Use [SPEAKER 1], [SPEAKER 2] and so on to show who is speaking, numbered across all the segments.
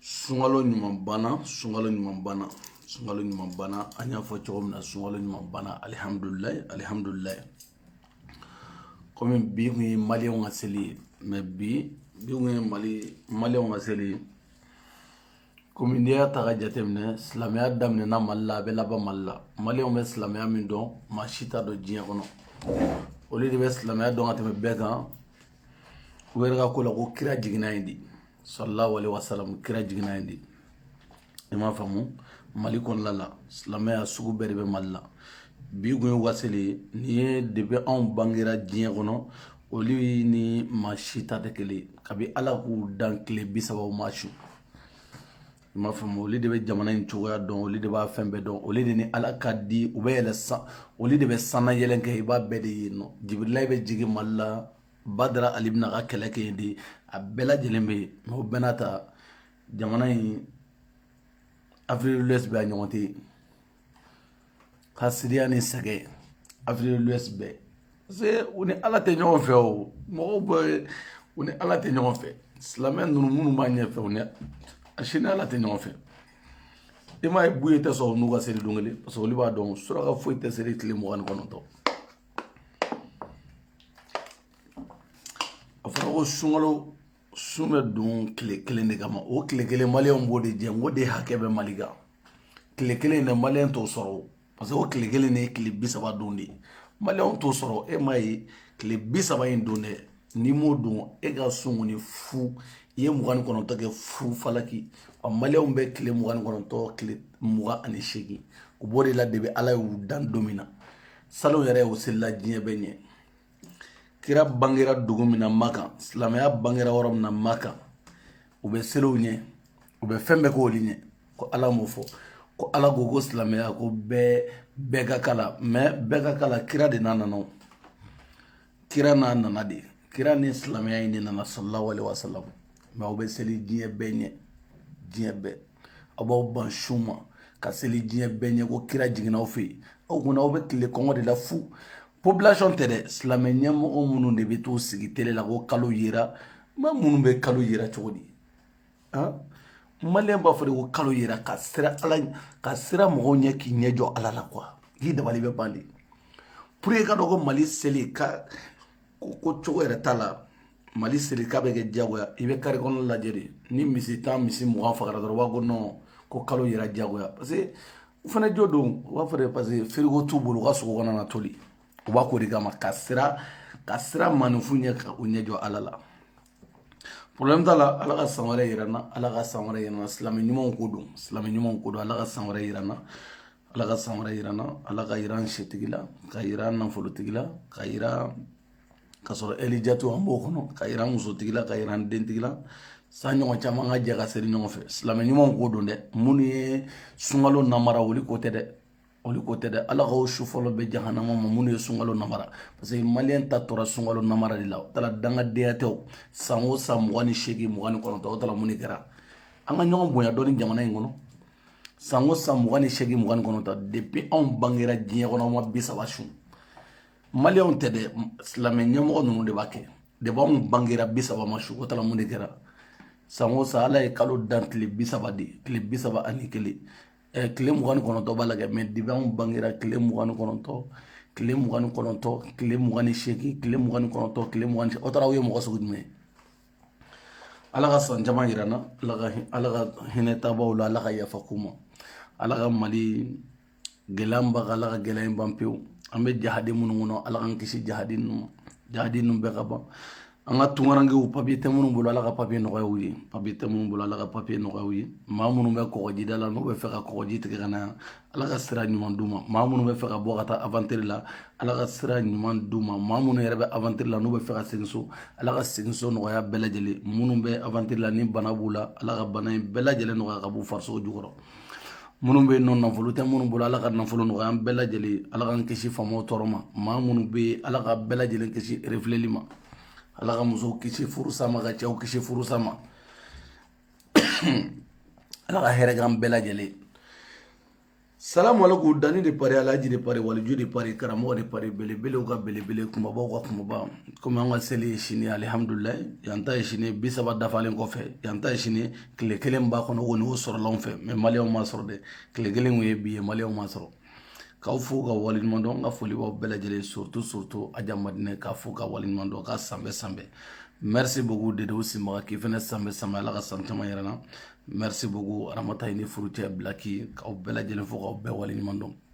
[SPEAKER 1] sunkalo ɲuman banna sunkalo ɲuman banna sunkalo ɲuman banna an y'a fɔ cogo min na sunkalo ɲuman banna alihamudulilayi alihamudulilayi kɔmi bi kun ye maliyɛnw ka seli ye mɛ bi bi kun ye mali maliyɛnw ka seli ye kɔmi n'i y'a ta ka jateminɛ silamɛya daminɛna mali la a bɛ laban mali la maliyɛnw bɛ silamɛya min dɔn maa si t'a dɔn diɲɛ kɔnɔ olu de bɛ silamɛya dɔn ka tɛmɛ bɛɛ kan u yɛrɛ ka ko la ko kira jiginna yen de sallallahu alaihi wasallam kira jiginna yen de i m'a faamu mali kɔnɔna la silamɛya sugu bɛɛ de bɛ mali la bi kun ye u ka seli ye nin ye depi anw bangera diɲɛ kɔnɔ olu ni maa si ta tɛ kelen ye kabi ala k'u dan tile bi saba u ma sun i m'a faamu olu de bɛ jamana in cogoya dɔn olu de b'a fɛn bɛɛ dɔn olu de ni ala ka di u bɛ yɛlɛ san olu de bɛ sanna yɛlɛn kɛ i b'a bɛɛ de ye nɔ jibirili bɛ jigin mali la badara ali bɛn'a ka kɛlɛ kɛ yen de a bɛɛ lajɛlen bɛ yen mɛ o bɛɛ n'a ta jamana in afrique de l'ouest bɛɛ a ɲɔgɔn tɛ yen hasidiya ni sɛgɛn afrique de l'ouest bɛɛ c'est u ni ala tɛ ɲɔgɔn fɛ o mɔgɔw bɛ u ni ala tɛ ɲɔgɔn fɛ silamɛ ninnu minnu b'a ɲɛfɛ u ni a si ni ala tɛ ɲɔgɔn fɛ i m'a ye buye tɛ sɔn n'u ka seli don kelen parce que olu b'a dɔn suraka foyi tɛ seli tile mugan ni kɔnɔntɔn a fɔra ko sunkalo sun bɛ don tile kelen de kama o tile kelen maliyɛnw b'o de jɛ n k'o de hakɛ bɛ mali kan tile kelen dɛ maliyɛn t'o sɔrɔ o parce que o tile kelen de ye tile bi saba don de ye maliyɛnw t'o sɔrɔ e m'a ye tile bi saba in don dɛ n'i m'o don e ka sun kɔni fu i ye mugan ni kɔnɔntɔn kɛ fu falaki wa maliyɛnw bɛ tile mugan ni kɔnɔntɔn tile mugan ani seegin u b'o de la depi ala y'u dan don min na salon yɛrɛ u selila diɲɛ bɛɛ ɲɛ kira bangera dugu min na makan silamɛya bangera yɔrɔ min na makan u bɛ seli u ɲɛ u bɛ fɛn bɛɛ k'olu ɲɛ ko ala m'o fɔ ko ala ko ko silamɛya ko bɛɛ bɛɛ ka kala mɛ bɛɛ ka kala kira de n'a nana kira n'a nana de kira ni silamɛya in de nana sallallahu alaihi wasallam mɛ aw bɛ seli diɲɛ bɛɛ ɲɛ diɲɛ bɛɛ aw b'aw ban sun ma ka seli diɲɛ bɛɛ ɲɛ ko kira jiginna aw fɛ yen aw kunna aw bɛ tilen kɔngɔ de la fu population tɛ dɛ silamɛ ɲɛmɔgɔ minnu de bɛ t'u sigi tele la ko kalo yera maa minnu bɛ kalo yera cogo di maliyɛn b'a fɔ de ko kalo yera ka siran ala ka siran mɔgɔw ɲɛ k'i ɲɛ jɔ ala la quoi k'i dabali bɛ ban de pour que k'a dɔn ko mali seli ka ko cogo yɛrɛ t'a la mali seli k'a bɛ kɛ diyagoya i bɛ kare kɔnɔ lajɛ de ni misi tan misi mugan fagara dɔrɔn u b'a ko nɔn ko kalo yera diyagoya parce que u fana jo don u b'a fɔ de parce que frigo t'u bolo u ka sogo kana na toli u b'a k'o de kama ka siran ka siran maaninfin ɲɛ ka u ɲɛ jɔ ala la problème t'a la ala ka san wɛrɛ yira n na ala ka san wɛrɛ yira n na silamɛ ɲumanw ko don silamɛ ɲumanw ko don ala ka san wɛrɛ yira n na ala ka san wɛrɛ yira n na ala ka yira n setigi la ka yira n nafolotigi la ka yira ka sɔrɔ elijatu an b'o kɔnɔ ka yira n musotigi la ka yira n dentigi la san ɲɔgɔn caman ka jɛ ka seli ɲɔgɔn fɛ silamɛ ɲumanw ko don dɛ minnu ye sunkalo namara wuli ko tɛ dɛ olu ko tɛ dɛ ala ka o su fɔlɔ bɛn jahanama ma minnu ye sunkalo namara parce que maliyɛn ta tora sunkalo namara de la o taara dangadenya tɛ o san o san mugan ni seegin mugan ni kɔnɔntɔn o taara mun de kɛra an ka ɲɔgɔn bonya dɔɔni jamana in kɔnɔ san o san mugan ni seegin mugan ni kɔnɔntɔn depuis anw bangera diɲɛ kɔnɔ an ma bi saba sun maliyɛnw tɛ dɛ silamɛ ɲɛmɔgɔ ninnu de b'a kɛ depuis anw bangera bi saba ma sun o taara mun de kɛra san o san ala ye kalo dan tile bi saba de tile bi saba ani kelen tile mugan ni kɔnɔntɔn b'a la kɛ mais depuis anw bangera tile mugan ni kɔnɔntɔn tile mugan ni kɔnɔntɔn tile mugan ni seegin tile mugan ni kɔnɔntɔn tile mugan ni o taara aw ye mɔgɔ sugu jumɛn ala ka san caman yira an na ala ka ala ka hinɛ taabaw la ala ka yafa k'u ma ala ka mali gɛlɛya ban ala ka gɛlɛya in ban pewu an bɛ jahadi minnu kɔnɔ ala k'an kisi jahadi ninnu ma jahadi ninnu bɛɛ ka ban an ka tunkarankew papiye tɛ minnu bolo ala ka papiye nɔgɔya u ye papiye tɛ minnu bolo ala ka papiye nɔgɔya u ye maa minnu bɛ kɔgɔjida la n'u bɛ fɛ ka kɔgɔji tigɛ ka na yan ala ka sira ɲuman d'u ma maa minnu bɛ fɛ ka bɔ ka taa avantiri la ala ka sira ɲuman d'u ma maa minnu yɛrɛ bɛ avantiri la n'u bɛ fɛ ka segin so ala ka segin so nɔgɔya bɛɛ lajɛlen minnu bɛ avantiri la ni bana b'u la ala ka bana in bɛɛ lajɛlen nɔgɔya ka b'u farisogo jukɔrɔ minnu bɛ yen ni nafolo tɛ minnu bolo ala ka nafolo nɔgɔya an bɛɛ lajɛlen ala k'an kisi faamaw tɔɔrɔ ma maa minnu bɛ yen ala ka bɛɛ lajɛlen kisi refuleli ma ala ka musow kisi furusa ma ka cɛw kisi furusa ma ala ka hɛrɛ k'an bɛɛ lajɛlen salamu alaikum dani de paris alaji de paris waliju de paris karamɔgɔ de paris belebelew ka belebele kumabaw ka kumaba komi an ka seli ye sini alihamdulilayi yan ta ye sini bi saba dafalen kɔfɛ yan ta ye sini tile kelen b'a kɔnɔ ko n'o sɔrɔla anw fɛ mais maliyɛnw ma sɔrɔ dɛ tile kelen kun ye bi ye maliyɛnw ma sɔrɔ k'aw fo ka waleɲuman dɔn ka foli b'aw bɛɛ lajɛlen surtout surtout aja madinɛ k'a fo ka waleɲuman dɔn ka sanbɛ sanbɛ merci beaucoup dedew sinbaga k'i fɛnɛ sanbɛ sanbɛ ala ka san caman yira an na merci beaucoup aramata i ni furucɛ bilaki k'aw bɛɛ lajɛlen fo k'aw bɛɛ waleɲuman dɔn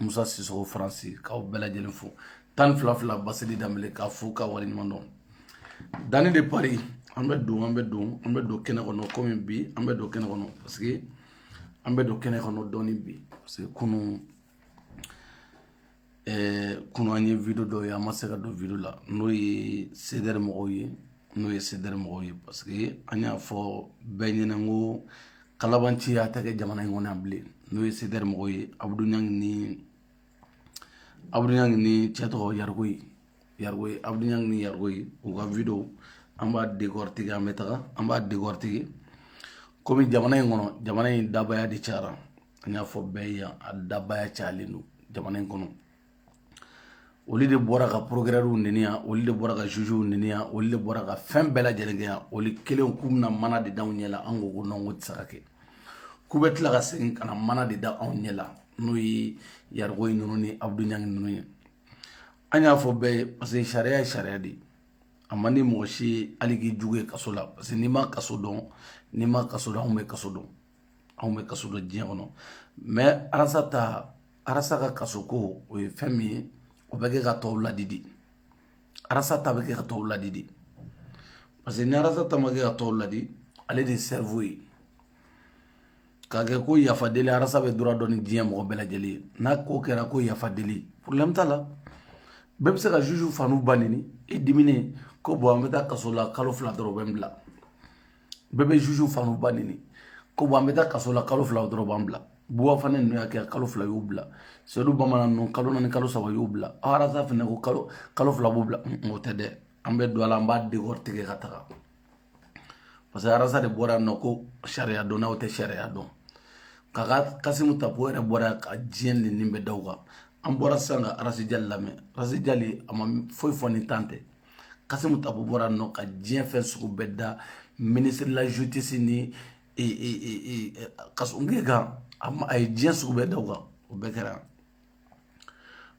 [SPEAKER 1] musa sisoko faransi k'aw bɛɛ lajɛlen fo tan fila fila basili danbele k'a fo ka waleɲuman dɔn dani de paris an bɛ don an bɛ don an bɛ don kɛnɛ kɔnɔ kɔmi bi an bɛ don kɛnɛ kɔnɔ parce que an bɛ don kɛnɛ kɔnɔ dɔɔni bi parce que kunu ɛɛ kunu an ye video dɔ ye an ma se ka don video la n'o ye sedɛri mɔgɔw ye n'o ye sedɛri mɔgɔw ye parce que an y'a fɔ bɛɛ ɲɛna n ko kalabanciya tɛ kɛ jamana in kɔnɔ yan bilen n'o ye CDR mɔgɔw ye abudu ɲangi ni abudu ɲangi ni cɛ tɔgɔ yarikoye yarikoye abudu ɲangi ni yarikoye u ka video an b'a décortiquer an bɛ taga an b'a décortiquer komi jamana in kɔnɔ jamana in dabaya de cayara an y'a fɔ bɛɛ ye yan a dabaya cayalen don jamana in kɔnɔ olu de bɔra ka procureur neni yan olu de bɔra ka jugew neni yan olu de bɔra ka fɛn bɛɛ lajɛlen kɛ yan olu kelen k'u na mana de da anw ɲɛ la an ko ko non k'o tɛ se ka kɛ k'u bɛ tila ka segin ka na mana de da anw ɲɛ la n'o ye yarikoye ninnu ni abudu ɲangi ninnu ye an y'a fɔ bɛɛ ye parce que sariya ye sariya de ye a man di mɔgɔ si hali k'i jugu ye kaso la parce que n'i ma kaso dɔn n'i ma kaso dɔn anw bɛ kaso dɔn anw bɛ kaso dɔn diɲɛ kɔnɔ mais arasa ta arasa ka kaso ko o ye fɛn min ye o bɛ kɛ ka tɔw ladi de arasa ta bɛ kɛ ka tɔw ladi de parce que ni arasa ta ma kɛ ka tɔw ladi ale de ye cerveau ye k'a kɛ ko yafa deli arasa bɛ droit dɔn ni diɲɛ mɔgɔ bɛɛ lajɛlen ye n'a ko kɛra ko yafa deli problème t'a la bɛɛ bɛ se ka juge fa n'u ba neni i diminen ko bon an bɛ taa kaso la kalo fila dɔrɔn u bɛ n bila bɛɛ bɛ juge fa n'u ba neni ko bon an bɛ taa kaso la kalo fila dɔrɔn b'an bila buba fane ninnu y'a kɛ kalo fila y'u bila sedu bamanan ninnu kalo naani kalo saba y'u bila arasa fana ko kalo kalo fila b'u bila o tɛ dɛ an bɛ don a la an b'a décortiquer ka taga parce que arasa de bɔra yan nɔ ko sariya dɔnnaw tɛ sariya dɔn k'a ka kasimu tapo yɛrɛ bɔra yan ka diɲɛ nenini bɛɛ da u kan an bɔra sisan ka arasi jali lamɛn arasi jali a ma foyi fɔ ni tan tɛ kasimu tapo bɔra nɔ ka diɲɛ fɛn sugu bɛɛ da ministre de la justice ni kasoge kan a ye diɲɛ sugu bɛɛ da o kan o bɛɛ kɛra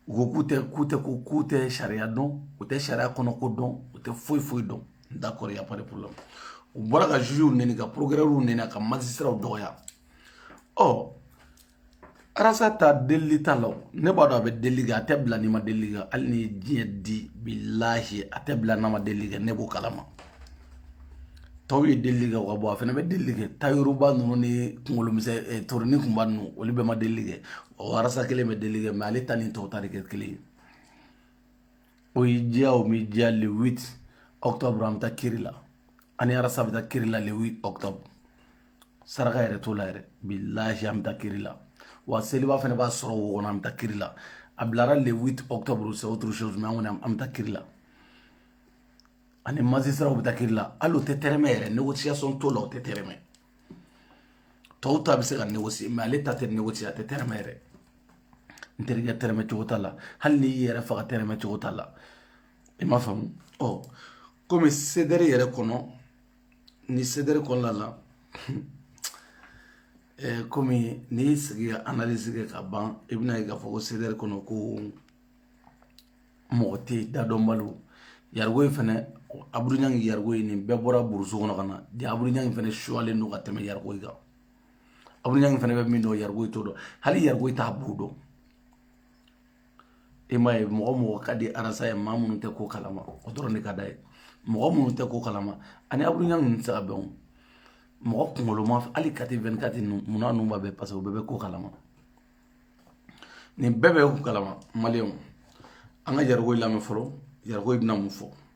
[SPEAKER 1] u ko k'u tɛ k'u tɛ ko k'u tɛ sariya dɔn u tɛ sariya kɔnɔ ko dɔn u tɛ foyi foyi dɔn d'accord y a pas de problème u bɔra ka jugew neni ka procureur neni ka magistratw dɔgɔya ɔ arasa ta delili t'a la ne b'a dɔn a bɛ delili kɛ a tɛ bila n'i ma delili kɛ hali n'i ye diɲɛ di bilahi a tɛ bila n'a ma delili kɛ ne b'o kalama tɔw ye delili kɛ o ka bɔ a fana bɛ delili kɛ tayiru ba ninnu ni kunkolo misɛn eh, toroni kunba ninnu olu bɛɛ ma delili kɛ o arasa kelen bɛ delili kɛ mais ale ta ni tɔw ta tɛ kɛ kelen ye o y'i diya o m'i diya le 8 octobre an bɛ taa kiri la ani arasa bɛ taa kiri la le 8 octobre saraka yɛrɛ t'o la yɛrɛ bilahi an bɛ taa kiri la wa seliba fana b'a sɔrɔ wo kɔnɔ an bɛ taa kiri la a bilara le 8 octobre c'est autre chose mais an kɔni an bɛ taa kiri la ani magistrat bɛ taa kiri la hali o tɛ tɛrɛmɛ yɛrɛ négociation t'o la o tɛ tɛrɛmɛ tɔw ta bɛ se ka négocier mais ale ta tɛ négocier a tɛ tɛrɛmɛ yɛrɛ n terikɛ tɛrɛmɛ cogo t'a la hali n'i y'i yɛrɛ faga tɛrɛmɛ cogo t'a la i m'a faamu ɔ komi CDR yɛrɛ kɔnɔ ni CDR kɔnɔna la eh, komi n'i y'i sigi ka analyse kɛ ka ban i bɛna ye k'a fɔ ko CDR kɔnɔ ko mɔgɔ tɛ yen dadɔnbaliw yargoyi fɛnɛ abudu ɲangi yargoyi nin bɛɛ bɔra burusu kɔnɔ ka na de abudu ɲangi fɛnɛ suyalen don ka tɛmɛ yargoyi kan abudu ɲangi fɛnɛ bɛ min dɔn yargoyi t'o dɔn hali yargoyi t'a bu dɔn e m'a ye mɔgɔ mɔgɔ ka di arasa ye maa minnu tɛ ko kalama o dɔrɔn de ka d'a ye mɔgɔ minnu tɛ ko kalama ani abudu ɲangi ninnu tɛ se ka bɛn o mɔgɔ kunkoloma hali kati vingt-quatre ninnu munna ninnu b'a bɛɛ parce que o bɛɛ bɛ ko kalama nin bɛɛ bɛ ko kalama maliyɛnw an ka yargoyi lamɛn fɔlɔ yargoyi bɛna mun fɔ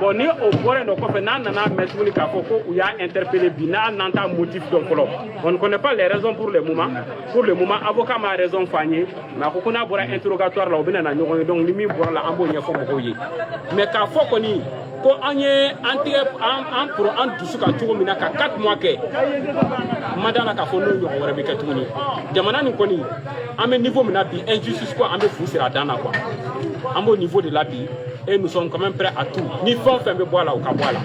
[SPEAKER 2] bon ni o bɔra dɔ kɔfɛ n'an nana a mɛn tuguni k'a fɔ ko u y'a interpellé bi nin na an t'a motif dɔn fɔlɔ on ne connaît pas les raisons pour le moment avocat m'a raison fɔ an ye mais a ko ko n'a bɔra interrogatoire la u bɛna na ɲɔgɔn ye donc ni min bɔra a la an b'o ɲɛfɔ mɔgɔw ye mais k'a fɔ kɔni ko an ye an tigɛ an an poron an dusu kan cogo min na ka quatre mois kɛ mada la k'a fɔ n'o ɲɔgɔn wɛrɛ bɛ kɛ tuguni jamana nin kɔni an bɛ niveau min na bi injustice ko an bɛ fu siri a dan na quoi an b'o niveau de la bi et nous sommes quand même prêts à tout ni fɛn o fɛn bɛ bɔ a la o ka bɔ a la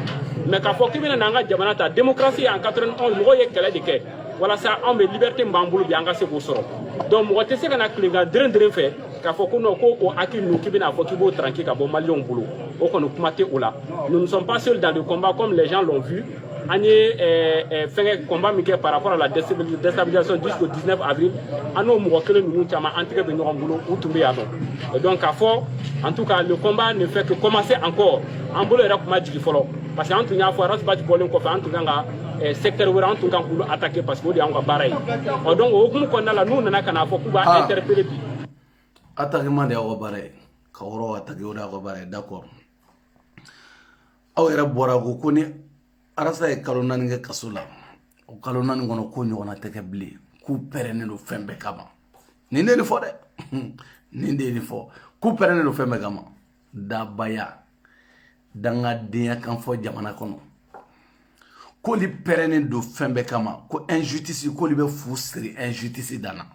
[SPEAKER 2] mais k'a fɔ k'i bɛna n'an ka jamana ta démocratie en 91 mɔgɔw ye kɛlɛ de kɛ walasa anw bɛ liberté min b'an bolo bi an ka se k'o sɔrɔ donc mɔgɔ tɛ se ka na tilenkan deren deren fɛ k'a fɔ ko non ko o acquis ninnu k'i bɛna a fɔ k'i b'o tranquille ka bɔ maliyɛnw bolo o kɔni kuma tɛ o la nous ne sommes pas seuls dans le combat comme les gens l'ont vu an ye fɛngɛ combat min kɛ par rapport à la déstabilisation jusqu'au 19 avril an n'o mɔgɔ kelen ninnu caman an tɛgɛ bɛ ɲɔgɔn bolo u tun bɛ yan nɔ donc k'a fɔ en tout cas le combat ne fait que commencer encore an bolo yɛrɛ tun ma jigin fɔlɔ parce que an tun y'a fɔ ras bath bɔlen kɔfɛ an tun kan ka secteur wɛrɛ an tun kan k'olu attaquer parce que o de y'anw ka baara ye ɔ donc o hukumu kɔnɔna la n'u nana ka n'a fɔ k'u b'a interpeller bi
[SPEAKER 1] attaquement de y'aw ka baara ye ka yɔrɔ attaquer o de y'aw ka baara ye d'accord aw yɛrɛ bɔra ko ko ni arasa ye kalo naani kɛ kaso la o kalo naani kɔnɔ ko ɲɔgɔnna tɛ kɛ bilen k'u pɛrɛnnen don fɛn bɛɛ kama nin de nin fɔ dɛ nin de nin fɔ k'u pɛrɛnnen don fɛn bɛɛ kama dabaya dangadenya kan fɔ jamana kɔnɔ k'olu pɛrɛnnen don fɛn bɛɛ kama ko injustice k'olu bɛ fu siri injustice dan na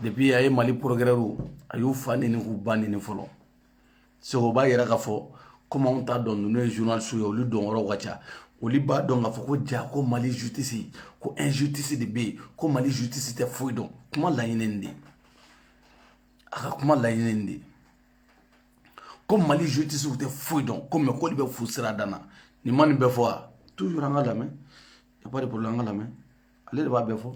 [SPEAKER 1] depuis a ye mali procureurw a y'u fa neni k'u ba neni fɔlɔ Segu b'a yira k'a fɔ kɔmi t'a dɔn ninnu ye journalistew ye olu dɔn yɔrɔ ka ca olu b'a dɔn k'a fɔ ko ja ko mali justice ko injustice de bɛ yen ko mali justice tɛ foyi dɔn kuma laɲini de a ka kuma laɲini de ko mali justice tɛ foyi dɔn komi k'olu bɛ fu siri a dan na nin man nin bɛ fɔ toujours an ka lamɛn an ka lamɛn ale de b'a bɛɛ fɔ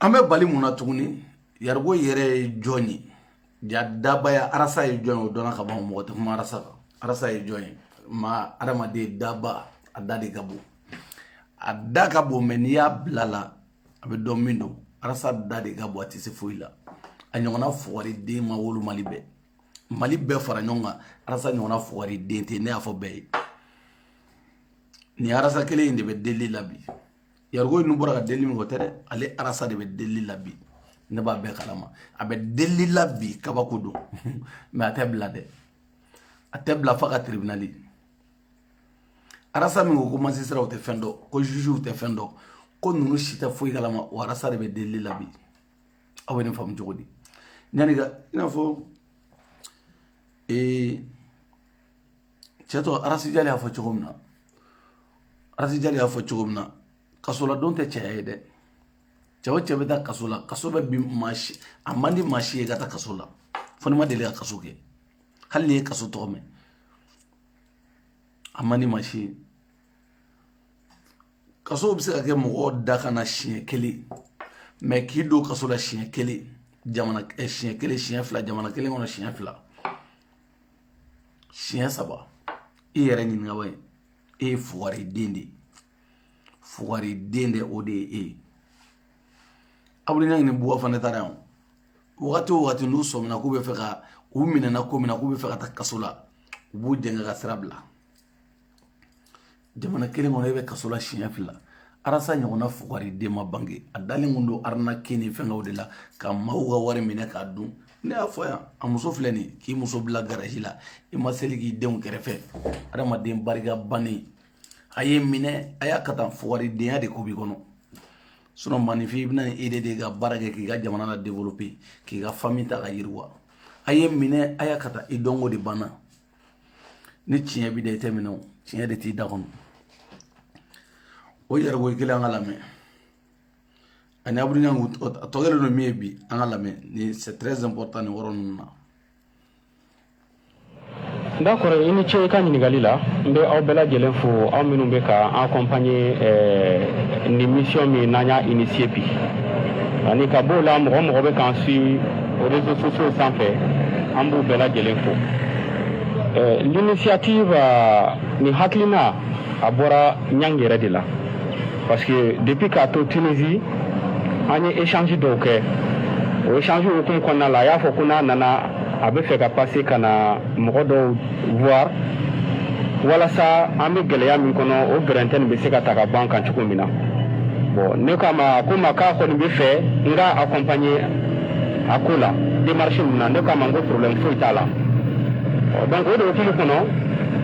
[SPEAKER 1] an bɛ bali mun na tuguni yarigo yɛrɛ ye jɔn ye ja dabaya arasa ye jɔn ye o dɔnna ka ban mɔgɔ tɛ kuma arasa kan arasa ye jɔn ye ma adamaden daba a da de ka bon a da ka bon mɛ n'i y'a bila la a bɛ dɔn min don arasa da de ka bon a tɛ se foyi la a ɲɔgɔnna fugariden ma wolo mali bɛɛ mali bɛɛ fara ɲɔgɔn kan arasa ɲɔgɔnna fugariden tɛ ne y'a fɔ bɛɛ ye nin arasa kelen in de bɛ delili la bi yarigo ninnu bɔra ka delili min kɛ o tɛ dɛ ale arasa de bɛ delili la bi ne b'a bɛɛ kalama a bɛ delili la bi kabako don mɛ a tɛ bila dɛ a tɛ bila fa ka tiribinali arasa min ko ko majisitaraw tɛ fɛn dɔn ko jujuw tɛ fɛn dɔn ko ninnu si tɛ foyi kalama o arasa de bɛ delili la bi aw bɛ nin faamu cogo di yanni ka i n'a fɔ ee cɛ tɔgɔ arasijali y'a fɔ cogo min na arasijali y'a fɔ cogo min na kasoladon tɛ cɛya ye dɛ cɛ o cɛ bɛ taa kaso la kaso bɛ bin maa si a man di maa si ye ka taa kaso la fo n'i ma deli ka kaso kɛ hali n'i ye kaso tɔgɔ mɛn a man di maa si ye kaso bɛ se ka kɛ mɔgɔ dakan na siɲɛ kelen mɛ k'i don kaso la siɲɛ kelen jamana eh, siɲɛ kelen siɲɛ fila jamana kelen kɔnɔ siɲɛ fila siɲɛ saba e yɛrɛ ɲininkaba ye e ye fugariden de ye fugariden de o de ye e ye abdul ɲang ni buba fane taara yan wagati o wagati n'u sɔmina k'u bɛ fɛ ka u minɛna ko min na k'u bɛ fɛ ka taa kaso la u b'u jɛngɛ ka sira bila jamana kelen kɔnɔ e bɛ kaso la siɲɛ fila arasa ɲɔgɔnna fugariden ma bange a dalen kun don arnaque ni fɛnkɛw de la ka maaw ka wari minɛ k'a dun ne y'a fɔ yan a muso filɛ nin k'i muso bila garaji la i ma seli k'i denw kɛrɛfɛ adamaden barika bannen a ye minɛ a y'a ka tan fugaridenya de ko b'i kɔnɔ sinɔn maninfin i bɛna ni e de de ka baara kɛ k'i ka jamana la développer k'i ka fami ta ka yiriwa a ye minɛ a y'a ka tan i dɔnko de banna ni tiɲɛ b'i da i tɛ minɛ o tiɲɛ de t'i da kɔnɔ o yɛrɛ ko kelen an ka lamɛn ani abdul ɲang a tɔ kɛlen don min ye bi an ka lamɛn ni c'est très important nin yɔrɔ ninnu na
[SPEAKER 2] d'accord i ni ce i ka ɲininkali la n bɛ aw bɛɛ lajɛlen fo aw minnu bɛ ka an accompagner eh, nin mission min n'an y'a initier bi ani ka b'o la mɔgɔ mɔgɔ bɛ k'an suit réseaux sociaux sanfɛ an b'u bɛɛ lajɛlen fo euh, l'initiative euh, nin hakilina a bɔra ɲang yɛrɛ de la parce que depuis k'a to tunisie an ye échange dɔw kɛ o échange hukumu kɔnɔna la a y'a fɔ ko n'a nana a bɛ fɛ ka passer ka na mɔgɔ dɔw voir walasa an bɛ gɛlɛya min kɔnɔ o gɛrɛntɛ nin bɛ se ka ta ka bɔ an kan cogo min na bon ne k'a ma ko ma k'a kɔni bɛ fɛ n ka accompagner a ko la démarche ninnu na ne k'a ma n ko problème foyi t'a la donc o de hukumu kɔnɔ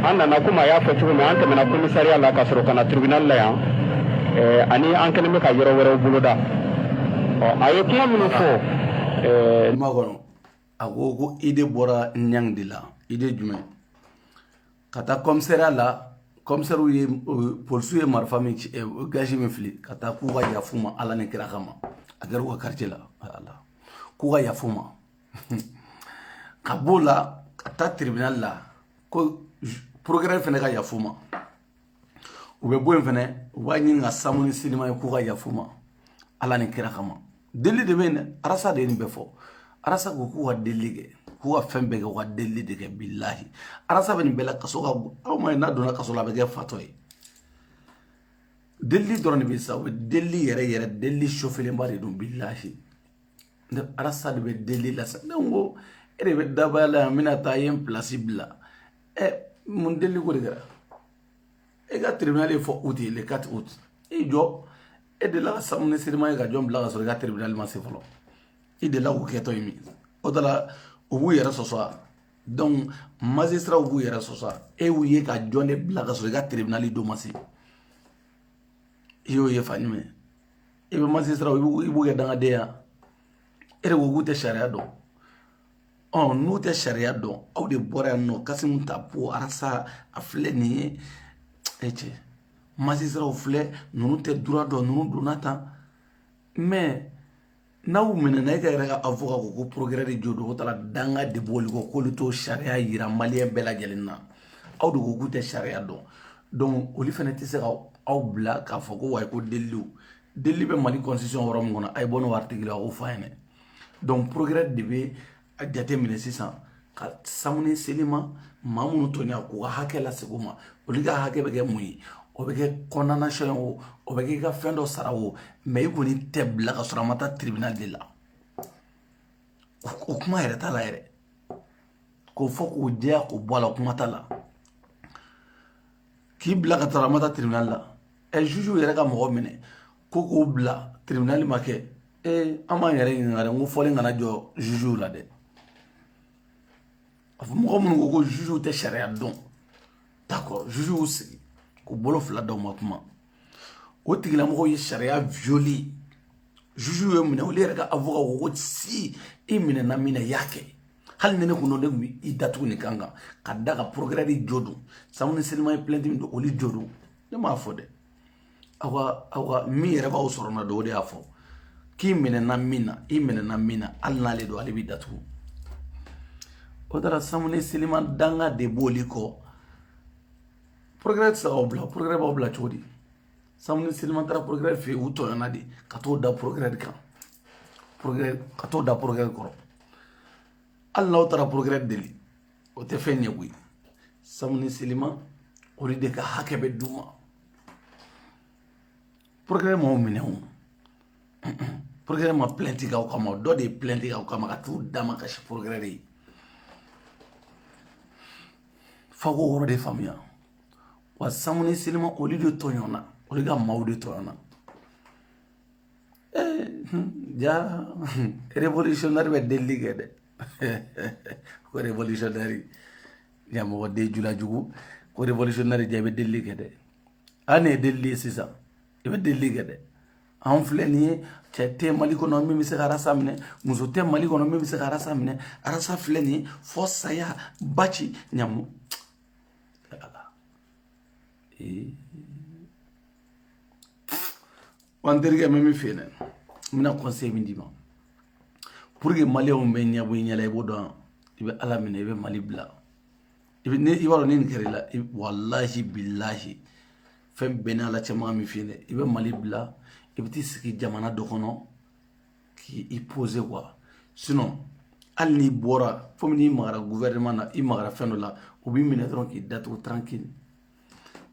[SPEAKER 2] an nana komi a y'a fɔ cogo min an tɛmɛna commissariat la ka sɔrɔ ka na tribunal la yan ani an kɛlen bɛ ka yɔrɔ wɛrɛw boloda a ye kuma minnu fɔ kuma kɔnɔ
[SPEAKER 1] a ko ko idée bɔra ɲang de la idée jumɛn ka taa commissariat la commissairew ye polisiw ye marifa min ci gazi min fili ka taa k'u ka yaf'u ma ala ni kira kama a kɛra u ka quartier la ala k'u ka yaf'u ma ka b'o la ka taa tribunal la ko procureur fɛnɛ ka yaf'u ma u bɛ bɔ yen fɛnɛ u b'a ɲini ka samu ni selima ye k'u ka yaf'u ma ala ni kira kama delili de bɛ yen dɛ arasa de ye nin bɛɛ fɔ arasa ko k'u ka delili kɛ k'u ka fɛn bɛɛ kɛ u ka delili de kɛ bilahi arasa bɛ nin bɛɛ la kaso ka bon aw ma ye n'a donna kaso la a bɛ kɛ fatɔ ye delili dɔrɔn de bɛ sa u bɛ delili yɛrɛ yɛrɛ delili chauffélenba de don bilahi ne arasa de bɛ delili la sa ne ko e de bɛ dabaya la yan n bɛna taa ye n pilasi bila ɛ mun deli ko de kɛra e ka tribunal ye fɔ août ye le 4 août i jɔ e delila ka samu ni selima ye ka jɔn bila ka sɔrɔ i ka tribunal ma se fɔlɔ i delila k'o kɛtɔ ye min o de la u b'u yɛrɛ sɔsɔ a donc magistrat b'u yɛrɛ sɔsɔ a e y'u ye ka jɔn de bila ka sɔrɔ i ka tribunal don ma se i y'o ye fa ɲuman i bɛ magistrat i b'u kɛ dangaden ye e de ko k'u tɛ sariya dɔn ɔ n'u tɛ sariya dɔn aw de bɔra yan nɔ kasumu tapo arasa a filɛ nin ye e cɛ magistratw filɛ ninnu tɛ droit dɔn ninnu donna tan mais n'aw minɛna e ka yɛrɛ ka avocat ko ko procureur de jo don o taara danga de b'olu kɔ k'olu t'o sariya yira maliyɛn bɛɛ lajɛlen na aw de ko k'u tɛ sariya dɔn donc olu fana tɛ se ka aw bila k'a fɔ ko wayi ko deliliw delili bɛ mali constitution yɔrɔ min kɔnɔ a ye bɔ n'o article ye a k'o fɔ a ɲɛna donc procureur de bɛ a jateminɛ sisan ka samu ni selima maa minnu tɔɲɔ k'u ka hakɛ lasegin u ma olu ka hakɛ bɛ kɛ mun ye o bɛ kɛ condamnation ye o o bɛ kɛ i ka fɛn dɔ sara o mais i kɔni tɛ bila ka sɔrɔ a ma taa tribunal de la o kuma yɛrɛ t'a la yɛrɛ k'o fɔ k'o jɛya k'o bɔ a la kuma t'a la k'i bila ka taara a ma taa tribunal la ɛ jugew yɛrɛ ka mɔgɔ minɛ ko k'o bila tribunal ma kɛ ee an b'an yɛrɛ ɲininka dɛ n ko fɔlen kana jɔ jugew la dɛ mɔgɔ minnu ko ko jugew tɛ sariya dɔn d'accord jugew y'u sigi k'u bolo fila da u ma kuma o tigilamɔgɔw ye sariya violer jugew y'u minɛ olu yɛrɛ ka avocat ko ko si i minɛna min na i y'a kɛ hali ni ne kun don ne kun bɛ i datugu nin kan kan ka da ka procureur de jo don samu ni selima ye plainte min don olu jo don ne m'a fɔ dɛ aw ka aw ka min yɛrɛ b'aw sɔrɔ na don o de y'a fɔ k'i minɛna min na i minɛna min na hali n'ale don ale b'i datugu o taara samu ni selima danga de b'olu kɔ procureur tɛ se k'aw bila procureur b'aw bila cogo di samu ni selima taara procureur fɛ yen u tɔɲɔna de ka t'o da procureur de kan procureur ka t'o da procureur kɔrɔ hali n'aw taara procureur deli o tɛ fɛn ɲɛ koyi samu ni selima olu de ka hakɛ bɛ d'u ma procureur m'aw minɛ o procureur ma plainte k'aw kama dɔ de ye plainte k'aw kama ka t'u damakasi procureur de ye f'aw k'o yɔrɔ de faamuya wa samu ni selima olu de tɔɲɔna olu ka maaw de tɔɲɔna ja révolutionnaire bɛ delili kɛ dɛ ko révolutionnaire ɲamɔgɔden julajugu ko révolutionnaire ja i bɛ delili kɛ dɛ an ne ye delili ye sisan i bɛ delili kɛ dɛ anw filɛ nin ye cɛ tɛ mali kɔnɔ min bɛ se ka arasa minɛ muso tɛ mali kɔnɔ min bɛ se ka arasa minɛ arasa filɛ nin ye fo saya b'a ci ɲamu ee wa n terikɛ n bɛ min f'i ye dɛ n bɛna conseil min d'i ma pour que maliyɛnw bɛ ɲɛbɔ i ɲɛla i b'o dɔn i bɛ ala minɛ i bɛ mali bila i bɛ ne i b'a dɔn ni nin kɛra i la walahi bilahi fɛn bɛɛ n'a la cɛman min f'i ye dɛ i bɛ mali bila i bɛ t'i sigi jamana dɔ kɔnɔ k'i poser quoi sinon hali n'i bɔra komi n'i magara gouvernement na i magara fɛn dɔ la u b'i minɛ dɔrɔn k'i datugu tranquille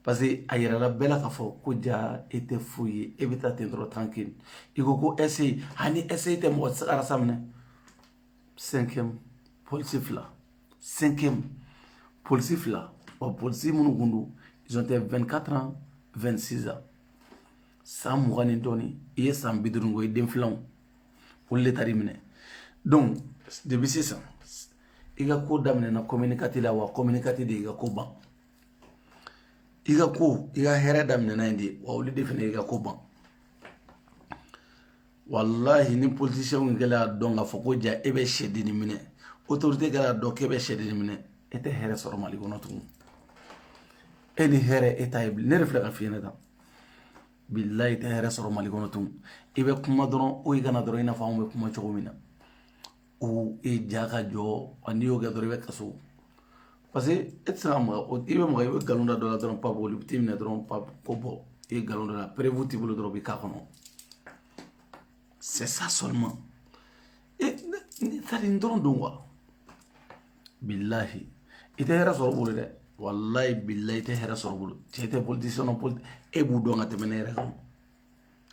[SPEAKER 1] parce que a yɛrɛla bɛɛ la k'a fɔ ko ja e tɛ foyi ye e bɛ taa ten dɔrɔn tranquille i ko ko ɛse ani ɛse tɛ mɔgɔ tɛ se ka arasa minɛ cinquième polisi fila cinquième polisi fila ɔ polisi minnu kun don ils ont été 24 ans 26 ans san mugan ni dɔɔni i ye san bi duuru ko i den filanw olu de taar'i minɛ donc depuis sisan i ka ko daminɛna communicateur la wa communicateur de y'i ka ko ban i ka ko i ka hɛrɛ daminɛna yen de wa olu de fana i ka ko ban walahi ni politisiyɛnw kɛlen y'a dɔn k'a fɔ ko ja e bɛ sɛdenni minɛ otorite kɛra dɔn k'e bɛ sɛdenni minɛ e tɛ hɛrɛ sɔrɔ mali kɔnɔ tugun e ni hɛrɛ e t'a ye bilen ne de filɛ k'a f'i ye ne ta bilayi i tɛ hɛrɛ sɔrɔ mali kɔnɔ tugun i bɛ kuma dɔrɔn o i kana dɔrɔn i n'a fɔ anw bɛ kuma cogo min na u e ja ka jɔ n'i y'o kɛ dɔrɔn i bɛ kaso parce que e tɛ se ka maga i bɛ maga i bɛ nkalon da dɔ la dɔrɔn papu olu bɛ t'i minɛ dɔrɔn papu ko bɔ i ye nkalon d'a la perewu t'i bolo dɔrɔn u b'i k'a kɔnɔ c'est ça seulement e ne taara nin dɔrɔn don wa bilahi i tɛ hɛrɛ sɔrɔ u bolo dɛ walayi bilayi i tɛ hɛrɛ sɔrɔ u bolo cɛ tɛ politisiyɛn na politi e b'u dɔn ka tɛmɛ ne yɛrɛ kan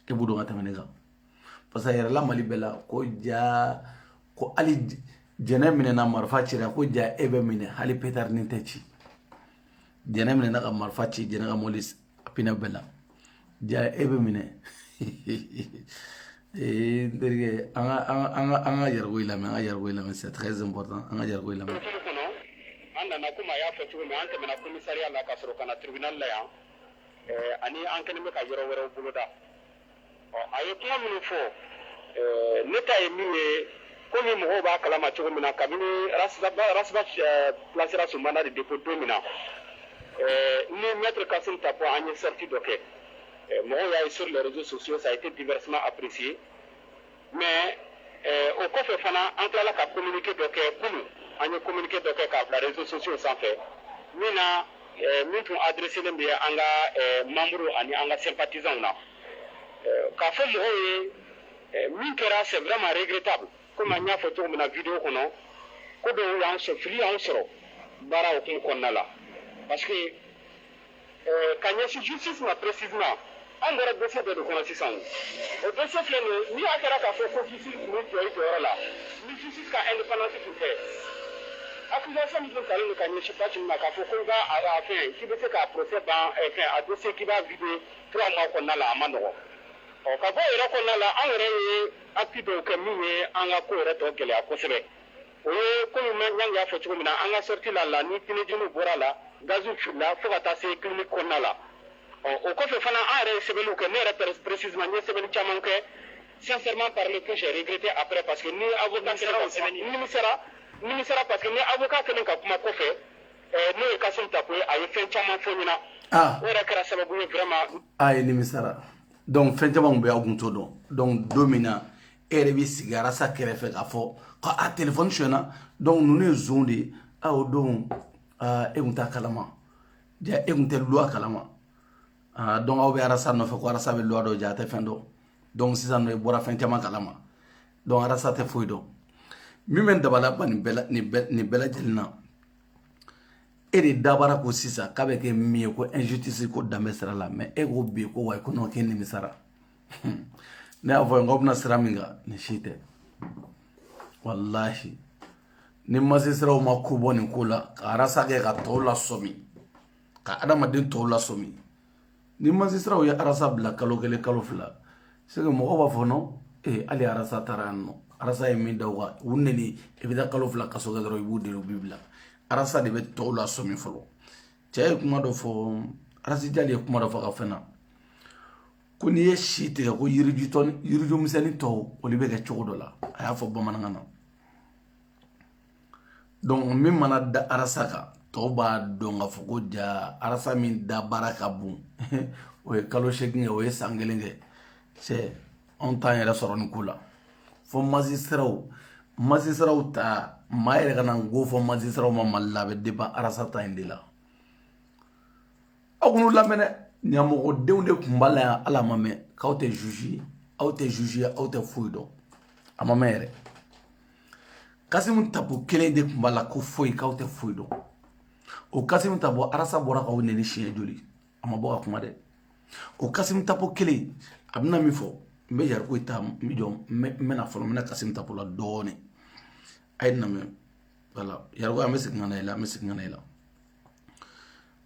[SPEAKER 1] e b'u dɔn ka tɛmɛ ne kan parce que yɛrɛla mali bɛɛ la ko ja ko hali jɛnɛ minɛna marifa cira ko ja e bɛ minɛ hali petarinin tɛ ci jɛnɛ minɛna ka marifa ci jɛnɛ ka mɔli pinɛ bɛɛ la ja e bɛ minɛ ee n terikɛ an ka an ka an ka an ka yɛrɛko in lamɛn an ka yɛrɛko in lamɛn c'est très important an ka yɛrɛko in lamɛn. an
[SPEAKER 2] nana komi a y'a fɔ cogo min an tɛmɛna komisariya la ka sɔrɔ ka na tribunal la yan ani an kɛlen bɛ ka yɔrɔ wɛrɛw boloda. a ye kuma minnu fɔ ne ta ye min ye ko ni mɔgɔw b'a kalama cogo min na kabini bilasira sumanda de de ko don min na ni mɛtiri ka sun ta fɔ an ye sati dɔ kɛ mɔgɔw y'a ye sori lariz soso sa i tɛ diɛrɛsima aprisi mais eh, o kɔfɛ fana an tilala ka communiqué dɔ kɛ kunu an ye communiqué dɔ kɛ k'a bila réseaux sociaux sanfɛ min na eh, min tun adresselen bɛ an ka eh, membre ani an ka sympathisants na k'a fɔ mɔgɔw ye min kɛra c'est vraiment regrettable komi an y'a fɔ cogo min na video kɔnɔ ko dɔw y'an sɔrɔ fili y'an sɔrɔ baara hukumu kɔnɔna la parce que Ka ɲɛsin justice ma précisément an bɔra dossier dɔ de kɔnɔ sisan o dossier filɛ nin ye ni a kɛra k'a fɔ ko justice tun bɛ jɔ i jɔyɔrɔ la ni justice ka indépendance tun tɛ accusation min tun talen don ka ɲɛsin Bathily ma k'a fɔ ko i b'a a fɛn k'i bɛ se k'a procès ban fɛn a dossier k'i b'a vider trois mois kɔnɔna la a man nɔgɔn ɔ ka bɔ o yɛrɛ kɔnɔna la an yɛrɛ ye acte dɔw kɛ min ye an ka ko yɛrɛ tɔ gɛlɛya kosɛbɛ. o ye komi an y'a fɔ cogo min na an ka sortie la la ni tiɲɛniw bɔr'a la gaz filila fo ka taa se clinique kɔnɔna la ɔ o kɔfɛ fana an yɛrɛ ye sɛbɛnniw kɛ ne yɛrɛ précisément n ye sɛbɛnni caman kɛ sincèrement parler que j'ai regretté après parce que ni avocat kɛlen ka kuma nimisara nimisara parce que ni avocat kɛlen ka kuma kɔfɛ ɛɛ n'o ye Kasim Tapo ye a ye fɛn caman fɔ n ɲɛna ah. o yɛrɛ kɛra sababu ye vraiment a ye nimisara
[SPEAKER 1] donc fɛn caman tun bɛ an tun t'o dɔn donc don min na e yɛrɛ bɛ sigi arasa kɛrɛfɛ k'a fɔ ko a telefɔni sonyɛna donc ninnu ye zon de ye a o don e tun t'a kalama ja e tun tɛ luwa kalama donc aw bɛ arasa nɔfɛ ko arasa bɛ luwa dɔn ja a tɛ fɛn dɔn donc sisan nɔ e bɔra fɛn caman kalama donc arasa tɛ foyi dɔn min bɛ n dabali ban nin bɛɛ lajɛlen na e de da b'a ra ko sisan k'a bɛ kɛ min ye ko injustice ko danbe sira la mais e ko bi ko wayi ko non k'e nimisara ne y'a fɔ n ko bɛna sira min kan nin si tɛ walahi ni masisiraw ma ko bɔ nin ko la ka arasa kɛ ka tɔw lasɔmi ka adamaden tɔw lasɔmi ni masisiraw ye arasa bila kalo kelen kalo fila c'est que mɔgɔw b'a fɔ nɔ ee hali arasa taara yan nɔ arasa ye min da u kan u neni i bɛ taa kalo fila kaso kɛ dɔrɔn i b'u deli u b'i bila arasa de bɛ tɔw lasɔmi fɔlɔ cɛ ye kuma dɔ fɔ arasijali ye kuma dɔ fɔ ka fɛn na ko n'i ye si tigɛ ko yiriju tɔ yiriju misɛnnin tɔw olu bɛ kɛ cogo dɔ la a y'a fɔ bamanankan na donc min mana da arasa kan tɔw b'a dɔn k'a fɔ ko ja arasa min da baara ka bon o ye kalo seegin kɛ o ye san kelen kɛ cɛ anw t'an yɛrɛ sɔrɔ nin ko la fo masisiraw masisiraw ta maa yɛrɛ kana n ko fɔ masisiraw ma mali la a bɛ depan arasa ta in de la aw k'u lamɛn dɛ ɲamɔgɔdenw de tun b'a la yan ala ma mɛn k'aw tɛ zuzi ye aw tɛ zuzi ye aw tɛ foyi dɔn a ma mɛn yɛrɛ kasimu tapo kelen de tun b'a la ko foyi k'aw tɛ foyi dɔn o kasimu tapo arasa bɔra k'aw neni siɲɛ joli a ma bɔ ka kuma dɛ o kasimu tapo kelen a bɛna min fɔ n bɛ yariko ta n bɛ jɔ n bɛna fɔlɔ n bɛ na kasimu tapo la dɔɔnin a y'a lamɛn voilà yariko an bɛ segin ka na i la an bɛ segin ka na i la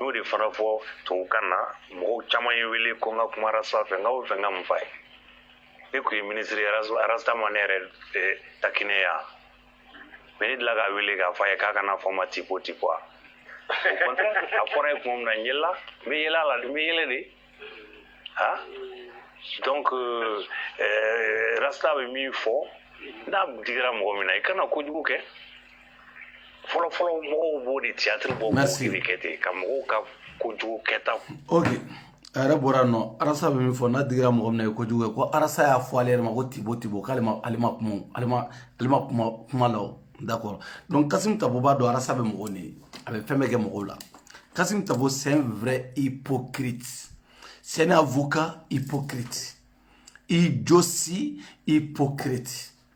[SPEAKER 3] n'o de fana fɔ tubabukan na mɔgɔw caman ye wele ko n ka kuma rasta fɛ n ka o fɛn n ka mun f'a ye ne tun ye minisiri arasta ma ne yɛrɛ eh, takinɛ yan mais ne dila k'a wele k'a fɔ a ye k'a kana fɔ n ma tipo tipo a a fɔra ye kuma min na n yɛlɛla n bɛ yɛlɛ a la n bɛ yɛlɛ de ha donc euh, eh, rasta bɛ min fɔ n'a digira mɔgɔ min na i kana kojugu kɛ fɔlɔfɔlɔ mɔgɔw b'o de théâtre bɔ k'o de kɛ ten ka mɔgɔw ka kojugu kɛta
[SPEAKER 1] ok a yɛrɛ bɔra nɔ arasa bɛ min fɔ n'a digira mɔgɔ min na i ye kojugu kɛ ko arasa y'a fɔ ale yɛrɛ ma ko tibo tibo k'ale ma ale ma kuma o- ale ma ale ma kuma kuma la o d'accord donc kasim tapo b'a dɔn arasa bɛ mɔgɔw neni a bɛ fɛn bɛɛ kɛ mɔgɔw la kasim tapo c'est un vrai hypocrite c'est un avocat hypocrite i josi hypocrite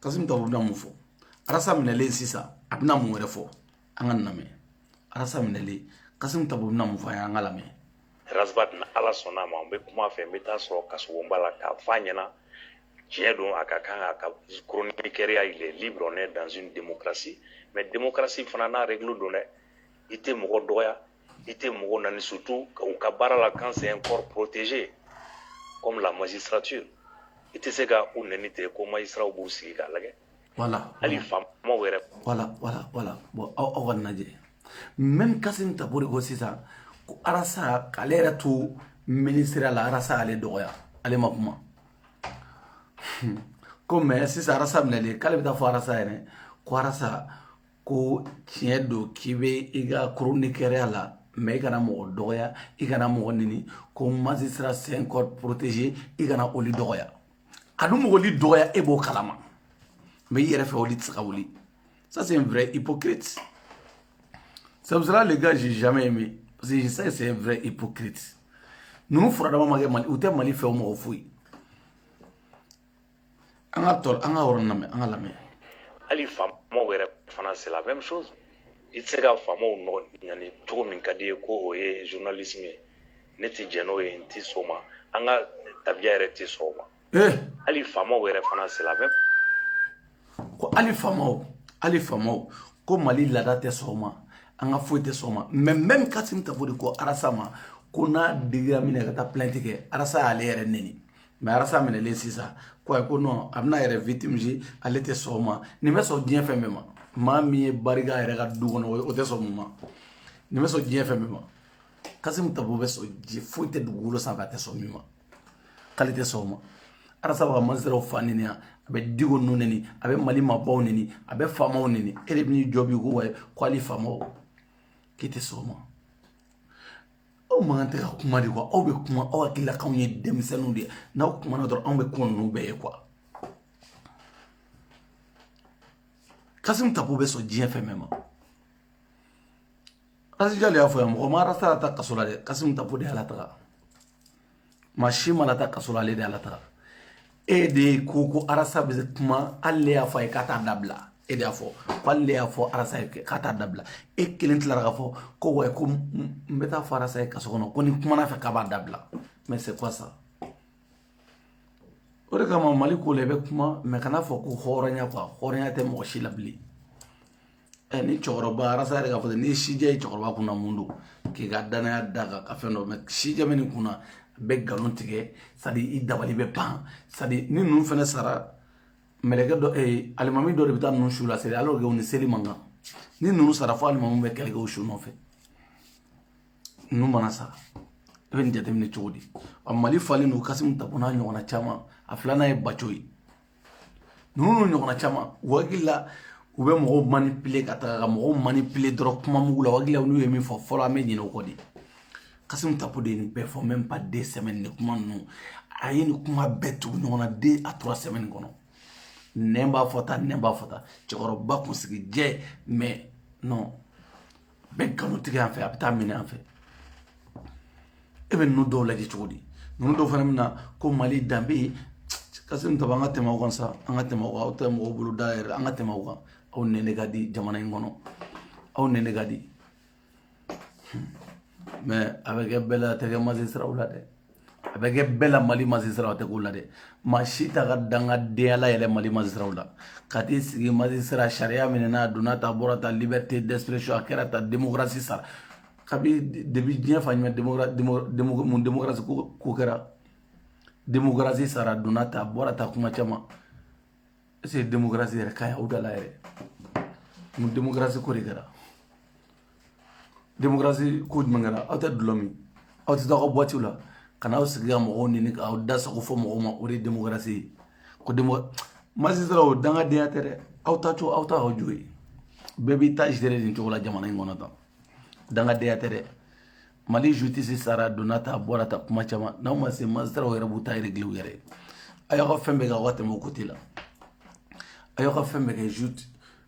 [SPEAKER 1] kasimu tapo bɛna mun fɔ arasa minɛlen sisan a bɛna mun wɛrɛ fɔ an ka lamɛn arasa minɛlen kasimu tapo bɛna mun fɔ an ye an ka lamɛn rasbat
[SPEAKER 3] n'ala sɔnna a ma n bɛ kuma a fɛ n bɛ taa a sɔrɔ kasobonba la k'a fɔ a ɲɛna tiɲɛ don a ka kan a ka chroniqueurya il est libre on est dans une démocratie mais démocratie fana n'a règle don dɛ i tɛ mɔgɔ dɔgɔya i tɛ mɔgɔw neni surtout u ka baara la quand c'est un corps protégé comme la magistrature i tɛ se ka u neni ten ko magistrats b'u sigi k'a lajɛ voilà hali
[SPEAKER 1] faamaw
[SPEAKER 3] yɛrɛ voilà voilà voilà
[SPEAKER 1] bon aw aw k'a lajɛ même Kasimu Tapo de ko sisan ko Arasa k'ale yɛrɛ to minisiriya la Arasa y'ale dɔgɔya ale ma kuma ko mais sisan Arasa minɛlen k'ale bɛ taa fɔ Arasa yɛrɛ ko Arasa ko tiɲɛ don k'i bɛ i ka chroniqueurya la mais i kana mɔgɔ dɔgɔya i kana mɔgɔ neni ko magistrat c'est un corps protégé i kana olu dɔgɔya a dun ma olu dɔgɔya e b'o kalama mais i yɛrɛ fɛ olu tɛ se ka wuli ça c'est un vrai hypocrite c'est pour cela le gars j'ai jamais aimé parce que je sais que c'est un vrai hypocrite ninnu furadama ma kɛ mali u tɛ mali fɛ o mɔgɔ foyi an ka tɔ an ka yɔrɔ lamɛn an ka lamɛn
[SPEAKER 3] hali faamaw yɛrɛ fana c'est la même chose i tɛ se ka faamaw nɔgɔ neni cogo min ka di i ye ko o ye journalisme ye ne tɛ jɛn n'o ye n tɛ sɔn o ma an ka tabiya yɛrɛ tɛ sɔn o ma eh hali faamaw yɛrɛ fana c'est la
[SPEAKER 1] même ko hali faamaw hali faamaw ko mali laada tɛ sɔn o ma an ka foyi tɛ sɔn o ma mais même kasimu tapo de ko arasa ma ko n'a digira min na ka taa plainte kɛ arasa y'ale yɛrɛ neni mais arasa minɛlen sisan ko ayi ko non a bɛna a yɛrɛ victimiser ale tɛ sɔn o ma nin bɛ sɔn diɲɛ fɛn bɛɛ ma maa min ye bari kɛ a yɛrɛ ka du kɔnɔ o tɛ sɔn mun ma nin bɛ sɔn diɲɛ fɛn bɛɛ ma kasimu tapo bɛ sɔn ji foyi tɛ dugukolo sanfɛ a tɛ sɔn min ma k'ale tɛ sɔn o ma arasa bɛ ka magistrats fa neni a bɛ diko ninnu neni a bɛ mali maabaw neni a bɛ faamaw neni e de bɛ n'i jɔ bi ko ayi ko hali faamaw k'i tɛ sɔn o ma aw man kan tɛ ka kuma de quoi aw bɛ kuma aw hakilila k'anw ye denmisɛnninw de ye n'aw kumana dɔrɔn anw bɛ kuma ninnu bɛɛ ye quoi kasimu tapo bɛ sɔn diɲɛ fɛn bɛɛ ma asijali y'a fɔ yan mɔgɔ ma arasa lataa kaso la dɛ kasimu tapo de y'a lataga maa si m'a lataa kaso la ale de y'a lataga e de ye ko ko arasa bɛ kuma hali ne y'a fɔ a ye k'a t'a dabila e de y'a fɔ ko hali ne y'a fɔ arasa ye k'a t'a dabila e kelen tilara k'a fɔ ko wa ko n bɛ taa fɔ arasa ye kaso kɔnɔ ko n'i kumana a fɛ k'a b'a dabila mais c'est quoi ça o de kama mali ko la i bɛ kuma mais kana fɔ ko hɔrɔnya quoi hɔrɔnya tɛ mɔgɔ si la bilen ɛ ni cɛkɔrɔba rasta yɛrɛ k'a fɔ n'i ye sijɛ ye cɛkɔrɔba kunna mun don k'i ka danaya da kan ka fɛn dɔ mais sijɛ bɛ nin kunna a bɛ nkalon tigɛ c'est-à-dire i dabali bɛ ban c'est-à-dire ni ninnu fana sara mɛlɛkɛ dɔ ee alimami dɔ de bɛ taa ninnu su la seli alors que u ni seli man kan ni ninnu sara fo alimami bɛ kɛlɛ kɛ u su nɔfɛ ninnu mana sara i bɛ nin jateminɛ cogo di ɔ mali falen don kasimu tapo n'a ɲɔgɔnna caman a filanan ye baco ye ninnu ɲɔgɔnna caman u hakili la u bɛ mɔgɔw manipuler ka taga ka mɔgɔw manipuler dɔrɔn kuma mugu la u hakili la n'u ye min fɔ fɔlɔ an bɛ ɲinɛ o kɔ de kasimu tapo de ye nin bɛɛ fɔ même pas deux semaines ni kuma ninnu a ye nin kuma bɛɛ tugu ɲɔgɔn na deux à trois semaines kɔnɔ nɛn b'a fɔ tan nɛn b'a fɔ tan cɛkɔrɔba kunsigi jɛ mais non a bɛ nkalon tigɛ yan fɛ a bɛ taa minɛ an fɛ e bɛ ninnu dɔw lajɛ cogo di ninnu dɔw fana bɛ na ko mali danbe kasimu tapo an ka tɛmɛ o kan sa an ka tɛmɛ o kan aw tɛ mɔgɔw bolo da yɛrɛ an ka tɛmɛ o kan aw nɛni ka di jamana in kɔnɔ aw nɛni ka di mais a bɛ kɛ bɛɛ la a tɛ kɛ magistratw la dɛ a bɛ kɛ bɛɛ la mali magistratw tɛ k'o la dɛ maa si t'a ka dangadenya layɛlɛ mali magistratw la ka t'i sigi magistrat sariya minɛ n'a donna ta bɔra ta liberté d'expression a kɛra ta démocratie sara kabi depuis diɲɛ fa ɲuman mun démocratie ko kɛra démocratie sara donna ta bɔra ta kuma caman est ce que démocratie yɛrɛ ka ɲi aw da la yɛrɛ mun démocratie ko de kɛra démocratie ko jumɛn kɛra aw tɛ dulɔ min aw tɛ taa aw ka boîte la ka n'aw sigi ka mɔgɔw nɛni k'aw da sago fɔ mɔgɔw ma o de ye démocratie ye ko magistrat o dangadenya tɛ dɛ aw ta to aw ta aw jo ye bɛɛ b'i ta gérer nin cogo la jamana in kɔnɔ tan dangadenya tɛ dɛ mali justice sara donna ta bɔra ta kuma caman n'aw ma se magistratw yɛrɛ b'u ta régler u yɛrɛ a y'aw ka fɛn bɛɛ kɛ aw ka tɛmɛ o côté la a y'aw ka fɛn bɛɛ kɛ jute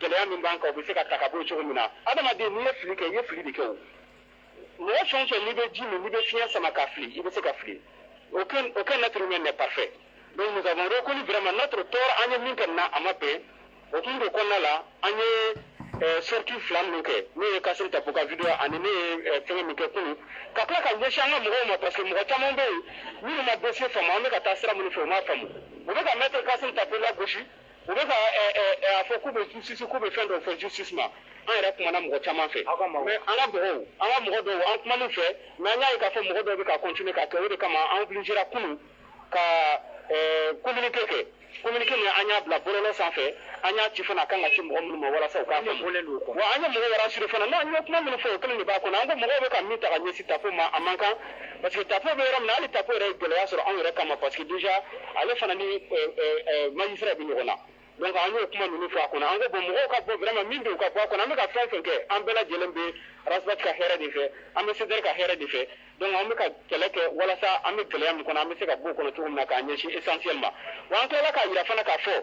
[SPEAKER 2] gɛlɛya min b'an kan o bɛ se ka ta ka bɔ yen cogo min na adamaden n'i ye fili kɛ i ye fili de kɛ o mɔgɔ fɛn o fɛn n'i bɛ ji min n'i bɛ fiɲɛ sama ka fili i bɛ se ka fili aucun aucun être humain n'est parfait donc nous avons reconnu vraiment notre tort an ye min kɛ nin na a ma bɛn o kun de kɔnɔna la an ye sortie fila minnu kɛ n'o ye kasimu tapo ka video ani ne ye fɛngɛ min kɛ kunun ka tila ka ɲɛsin an ka mɔgɔw ma parce que mɔgɔ caman bɛ yen minnu ma dossier faamu an bɛ ka taa sira minnu fɛ u m'a faamu u bɛ ka maître kasimu tapo lagosi u bɛ ka ɛ, ɛ, ɛ, a fɔ k'u bɛ justice k'u bɛ fɛn dɔ fɔ justice ma an yɛrɛ kumana mɔgɔ caman fɛ mais an ka mɔgɔw an ka mɔgɔ dɔw an kumana u fɛ mais an y'a ye k'a fɔ mɔgɔ dɔw bɛ ka continuer k'a kɛ o de kama an obligera kunun ka ɛ, communiqué kɛ communiqué min an y'a bila bɔlɔlɔ sanfɛ an y'a ci fana a kan ka ci mɔgɔ minnu ma walasa u k'a faamu wa an ye mɔgɔw rassurer fana n'an ye kuma minnu fɔ o kelen de b'a kɔnɔ an ko mɔgɔw bɛ ka min ta ka ɲɛsin tapo ma a man kan parce que tapo bɛ yɔrɔ min na hali tapo yɛrɛ ye gɛlɛya sɔrɔ anw yɛrɛ kama parce que déjà ale fana ni euh, euh, euh, magistrat bɛ ɲɔgɔn na donc an y'o kuma ninnu fɔ a kɔnɔ an ko bon mɔgɔw ka bɔ vraiment min bɛ yen u ka bɔ a kɔnɔ an bɛ ka fɛn fɛn kɛ an bɛɛ lajɛlen bɛ rasbat ka hɛrɛ de fɛ an bɛ CDR ka hɛrɛ de fɛ donc an bɛ ka kɛlɛ kɛ walasa an bɛ gɛlɛya min kɔnɔ an bɛ se ka bɔ o kɔnɔ cogo min na k'a ɲɛsin essentiel ma wa an tilala k'a jira fana k'a fɔ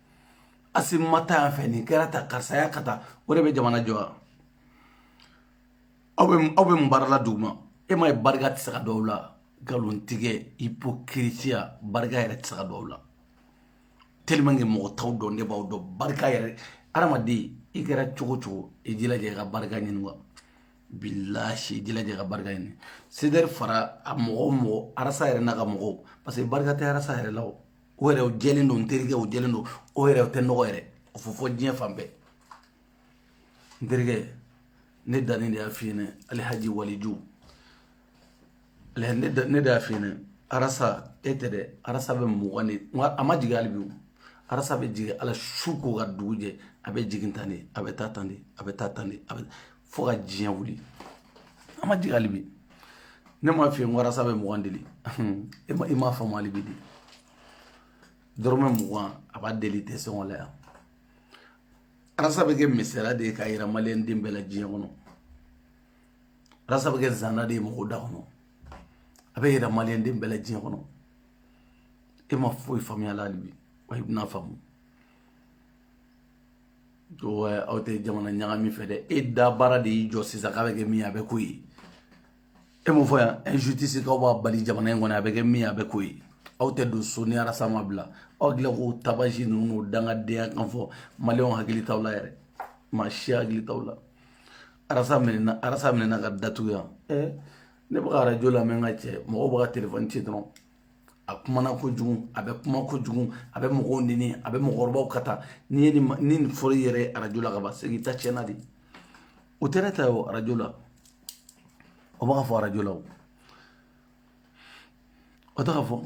[SPEAKER 1] asi ma taa yan fɛ nin kɛra ta karisa ya ka taa o de bɛ jamana jɔ wa aw bɛ aw bɛ mun baara la dugu ma e ma ye barika tɛ se ka don aw la nkalontigɛ ipokirisiya barika yɛrɛ tɛ se ka don aw la tellement que mɔgɔ t'aw dɔn ne b'aw dɔn barika yɛrɛ hadamaden i kɛra cogo cogo i jilaja i ka barika ɲini wa bilahi i jilaja i ka barika ɲini CDR fara a mɔgɔ mɔgɔ arasa yɛrɛ n'a ka mɔgɔw parce que barika tɛ arasa yɛrɛ la o o yɛrɛ o jɛlen don n terikɛ o jɛlen don o yɛrɛ o tɛ nɔgɔ yɛrɛ o fɔ fɔ diɲɛ fan bɛɛ n terikɛ ne danni de y'a f'i ɲɛna alihaji waliju ne de y'a f'i ɲɛna arasa e tɛ dɛ arasa bɛ mugan deli a ma jigin hali bi o arasa bɛ jigin ala su ko ka dugu jɛ a bɛ jigin tan de a bɛ taa tan de a bɛ taa tan de a bɛ fo ka diɲɛ wuli a ma jigin hali bi ne m'a f'i ye arasa bɛ mugan deli i ma faamu hali bi dɛ dɔrɔmɛ mugan a b'a deli tɛ sɔngɔ la yan arasa bɛ kɛ misaliya de ye k'a yira maliyɛn den bɛɛ la diɲɛ kɔnɔ arasa bɛ kɛ zana de ye mɔgɔw da kɔnɔ a bɛ yira maliyɛn den bɛɛ la diɲɛ kɔnɔ e ma foyi faamuya la hali bi wa i bɛna faamu ko aw tɛ jamana ɲagami fɛ dɛ e da baara de y'i jɔ sisan k'a bɛ kɛ min ye a bɛ k'o ye e m'o fɔ yan injustice k'aw b'a bali jamana in kɔnɔ a bɛ kɛ min ye a bɛ k'o ye aw tɛ don so ni arasa ma bila aw dilan k'o tabaji ninnu n'o dangadenya kan fɔ maliyɛnw hakili t'aw la yɛrɛ maa si hakili t'aw la arasa minɛna arasa minɛna k'a datugu yan ɛɛ ne bɛ ka arajo lamɛn n ka cɛ mɔgɔw bɛ ka telefɔni ci dɔrɔn a kumana kojugu a bɛ kuma kojugu a bɛ mɔgɔw neni a bɛ mɔgɔkɔrɔbaw ka taa n'i ye nin ni nin fɔra i yɛrɛ ye arajo la ka ban segin ta tiɲɛna de o tɛ ne ta ye o arajo la o b'a fɔ arajo la o o tɛ ka fɔ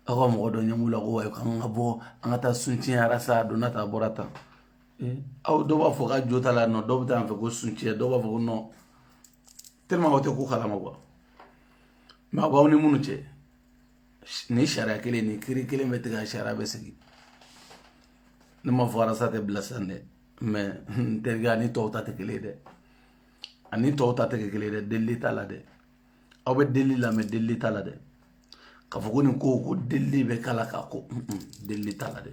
[SPEAKER 1] aw ka mɔgɔ dɔ ɲɛm'u la ko wayi k'an ka bɔ an ka taa soutien arasa a donna ta a bɔra ta aw dɔw b'a fɔ ka jo t'a la non dɔw bɛ taa yan fɛ ko soutien dɔw b'a fɔ ko non tellement aw tɛ ko kalama quoi mais aw b'aw ni minnu cɛ ni sariya kelen ni kiiri kelen bɛ tigɛ sariya bɛ sigi ne ma fɔ arasa tɛ bila sisan dɛ mais n terikɛ a ni tɔw ta tɛ kelen ye dɛ a ni tɔw ta tɛ kɛ kelen ye dɛ delili t'a la dɛ aw bɛ delili la mais delili t'a la dɛ k'a fɔ ko nin ko ko delili bɛ k'a la k'a ko delili t'a la dɛ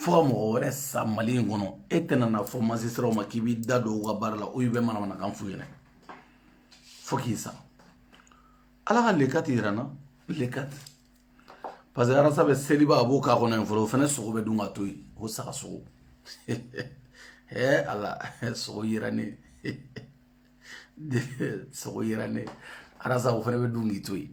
[SPEAKER 1] fo ka mɔgɔ wɛrɛ sa mali in kɔnɔ e tɛna na fɔ magistratw ma k'i b'i da don u ka baara la o i bɛ manamanakan f'u ɲɛna fo k'i sa ala ka le quatre yira n na le quatre parce que arasa bɛ seliba a b'o k'a kɔnɔ yen fɔlɔ o fana sogo bɛ dun ka to yen o saga sogo ee ala sogo yira ne sogo yira ne arasa o fana bɛ dun k'i to yen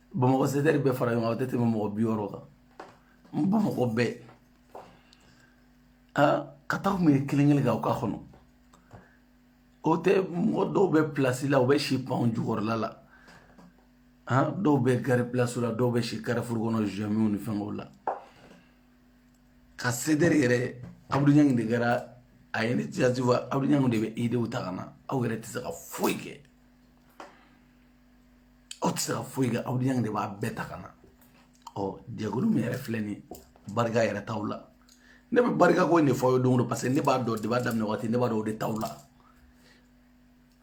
[SPEAKER 2] bamakɔ sedɛri bɛɛ fara ɲɔgɔn kan o tɛ tɛmɛ mɔgɔ bi wɔɔrɔ kan n bamakɔ bɛɛ aa ka taa kun ye kelen kelen kan u ka kɔnɔ o tɛ mɔgɔ dɔw bɛ pilasi la u bɛ si pɔnw jukɔrɔla la han dɔw bɛ gari pilasi la dɔw bɛ si karifuru kɔnɔ zɔmiw ni fɛngɛw la ka sedɛri yɛrɛ abudu ɲangi de kɛra a ye initiative abudu ɲangi de bɛ idew ta ka na aw yɛrɛ tɛ se ka foyi kɛ aw tɛ se ka foyi kɛ abudu ɲangi de b'a bɛɛ ta ka na ɔ jɛkulu min yɛrɛ filɛ nin barika yɛrɛ t'aw la ne bɛ barika ko in de fɔ aw ye don o don paseke ne b'a dɔn débat daminɛ waati ne b'a dɔn o de t'aw la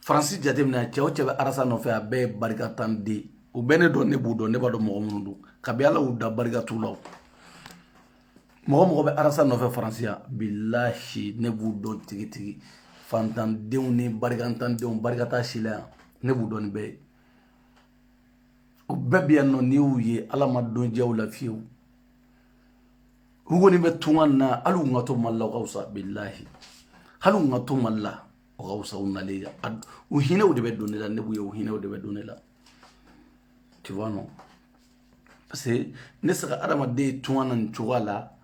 [SPEAKER 2] faransi jateminɛ cɛ o cɛ bɛ arasa nɔfɛ a bɛɛ ye barikantan de ye u bɛɛ ne dɔn ne b'u dɔn ne b'a dɔn mɔgɔ minnu don kabi ala y'u da barika t'u la mɔgɔ o mɔgɔ bɛ arasa nɔfɛ faransi yan bilahi ne b'u dɔn tigitigi fantandenw ni barikantandenw barika t'a si la yan ne b'u dɔn nin bɛɛ ye o bɛɛ bɛ yan nɔ n'i y'u ye ala ma don diya u la fiyewu u kɔni bɛ tunga na hali u ka to mali la o ka fisa bilahi hali u ka to mali la o ka fisa u nalen yan u hinɛw de bɛ don ne la ne b'u ye u hinɛw de bɛ don ne la tu vois non parce que ne sera ka adamaden tunga na nin cogoya la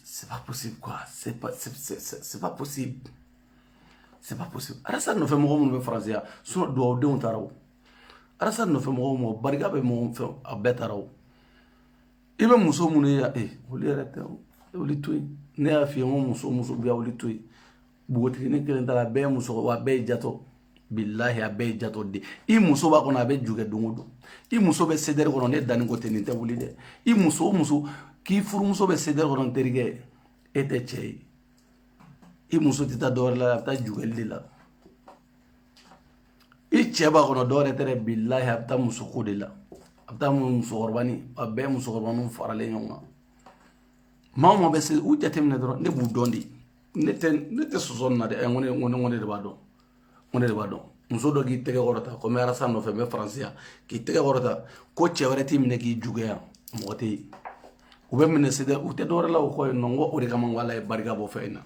[SPEAKER 2] c'est pas possible quoi c'est pas c'est pas possible
[SPEAKER 1] c'est pas possible arasa nɔfɛ mɔgɔ minnu bɛ faransi yan sinɔn duwawudenw taara o arasa nɔfɛ mɔgɔ o mɔgɔ barika bɛ mɔgɔ fɛ a bɛɛ taara o i bɛ muso minnu ye ee olu yɛrɛ tɛ olu to yen ne y'a f'i ye n ko muso o muso bɛ yan olu to yen npogotigini kelen t'a la a bɛɛ ye muso wa a bɛɛ ye jatɔ bilahi a bɛɛ ye jatɔ de i muso b'a kɔnɔ a bɛ jukɛ don o don i muso bɛ sedɛri kɔnɔ ne danni ko tɛ nin tɛ wuli dɛ i muso o muso k'i furumuso bɛ sedɛri kɔnɔ n terikɛ e tɛ cɛ ye i muso tɛ taa dɔwɛrɛ la a bɛ taa jukɛli de la i cɛ b'a kɔnɔ dɔwɛrɛ tɛ dɛ bilahi a bɛ taa musoko de la a bɛ taa musokɔrɔba ni a bɛɛ musokɔrɔba ninnu faralen ɲɔgɔn kan maa o maa bɛ se u jateminɛ dɔrɔn ne b'u dɔn de ne tɛ ne tɛ sɔsɔ nin na dɛ ɛ n ko ne n ko ne n ko ne de b'a dɔn n ko ne de b'a dɔn muso dɔ k'i tɛgɛ kɔrɔta ko n bɛ arasa nɔfɛ n bɛ faransi yan k'i tɛgɛ kɔrɔta ko cɛ wɛrɛ t'i minɛ k'i jukɛ yan mɔgɔ tɛ yen u bɛ minɛ sɛdɛ u tɛ dɔwɛrɛ la o kɔ yen nɔ n ko o de kama n ko ala ye barika bɔ fɛn in na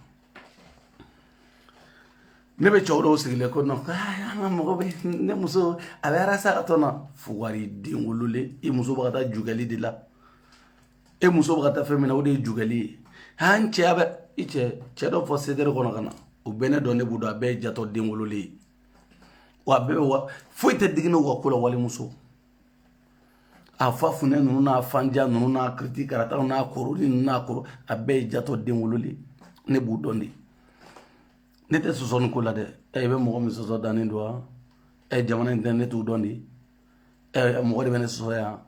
[SPEAKER 1] ne bɛ cɛw dɔw sigilen ko nɔn an ka mɔgɔ bɛ ne muso a bɛ arasa ka tɔn na fugari den wololen i muso bɛ ka taa jukɛli de la e muso bɛ ka taa fɛn min na o de ye jukɛli ye han cɛya bɛ i cɛ cɛ dɔ fɔ sedere kɔnɔ ka na u bɛ ne dɔn ne b'u dɔn a bɛɛ ye jatɔ den wololen ye wa a bɛɛ bɛ wa foyi tɛ digi ne u ka ko la walimuso a fa funɛ ninnu n'a fanja ninnu n'a kiriti karataw n'a koroli ninnu n'a koro a bɛɛ ye jatɔ den wololen ne b'u dɔn de ne tɛ sɔsɔ nin ko la dɛ ɛ i bɛ mɔgɔ min sɔsɔ danni don wa ɛ jamana in tɛ ne t'u dɔn de ɛ mɔgɔ de bɛ ne sɔsɔ yan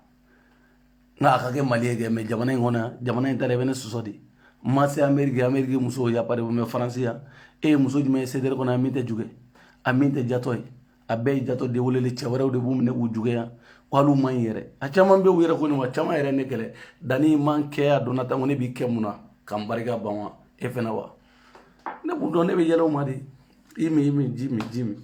[SPEAKER 1] nka a ka kɛ mali ye kɛ mɛ jamana in kɔnɔ jamana in ta i bɛ ne sɔsɔ de ma se anmeri anmerike muso ya pa mɛ faransi yan e ye muso jumɛn ye sedere kɔnɔ a min tɛ ju kɛ a min tɛ jatɔ ye a bɛɛ ye jatɔ den wololen cɛ wɛrɛw de b'u minɛ k'u ju kɛ yan wali man in yɛrɛ a caman bɛ u yɛrɛ ko nin wa caman yɛrɛ ne kɛlɛ danni man kɛ a donna tan ko ne b'i kɛ mun na ka n barika ban wa e fana wa ne b'u dɔn ne bɛ yɛlɛ u ma de i min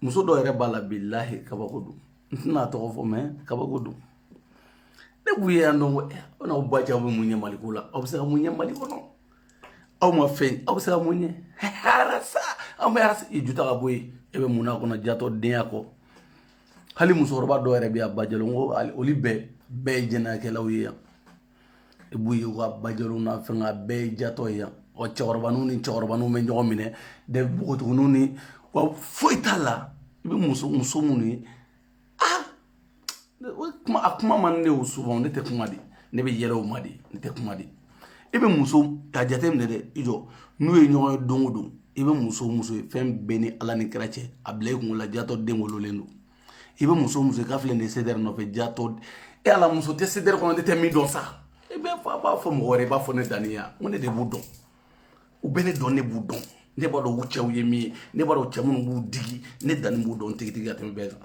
[SPEAKER 1] muso dɔw yɛrɛ b'a la bilahi kabako don n tɛna tɔgɔ fɔ mɛ kabako don ne b'u ye yan dɔn ko eh, aw n'aw ba cɛ aw bɛ mun ɲɛ mali ko la aw bɛ se ka mun ɲɛ mali kɔnɔ aw ma fɛn aw bɛ se ka mun ɲɛ arasa aw bɛ arasa i ju ta ka bɔ yen e bɛ mun na kɔnɔ jatɔ denya kɔ hali musokɔrɔba dɔw yɛrɛ bɛ yan bajɛlen ko olu bɛɛ bɛɛ ye jɛnɛyakɛlaw ye yan i b'u ye ka bajɛw na fɛn ka bɛɛ jatɔ ye yan wa cɛkɔrɔba ni cɛkɔrɔba bɛ ɲɔgɔn minɛ de npogotigiw ni wa foyi t'a la i bɛ muso muso minnu ye aa kuma a kuma man ne y'o souvent ne tɛ kuma de ne bɛ yɛlɛ u ma de ne tɛ kuma de i bɛ muso ka jate minɛ dɛ i jɔ n'u ye ɲɔgɔn ye don o don i bɛ muso muso ye fɛn bɛɛ ni ala ni kira cɛ a bila i kungo la jatɔ den wololen don i bɛ muso muso ka filɛ nin sedɛrɛ nɔfɛ jatɔ e ala muso tɛ sedɛrɛ kɔnɔ ne tɛ min dɔn sa i bɛ fa b'a fɔ mɔgɔ wɛrɛ i b'a fɔ ne danni ya n ko ne de b'u dɔn u bɛ ne dɔn ne b'u dɔn ne b'a dɔn u cɛw ye min ye ne b'a dɔn cɛ minnu b'u digi ne danni b'u dɔn tigitigi ka tɛmɛ bɛɛ kan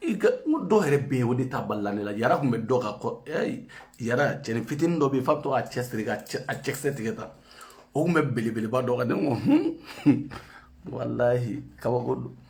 [SPEAKER 1] i ka n ko dɔw yɛrɛ bɛ yen o de ta balila ne la yara tun bɛ dɔ kan ko ɛɛ yara cɛni fitinin dɔ bɛ yen f'a bɛ to k'a cɛ siri ka cɛ a cɛkisɛ tigɛ tan o tun bɛ belebeleba dɔ kan ne ko hun walahi kabako don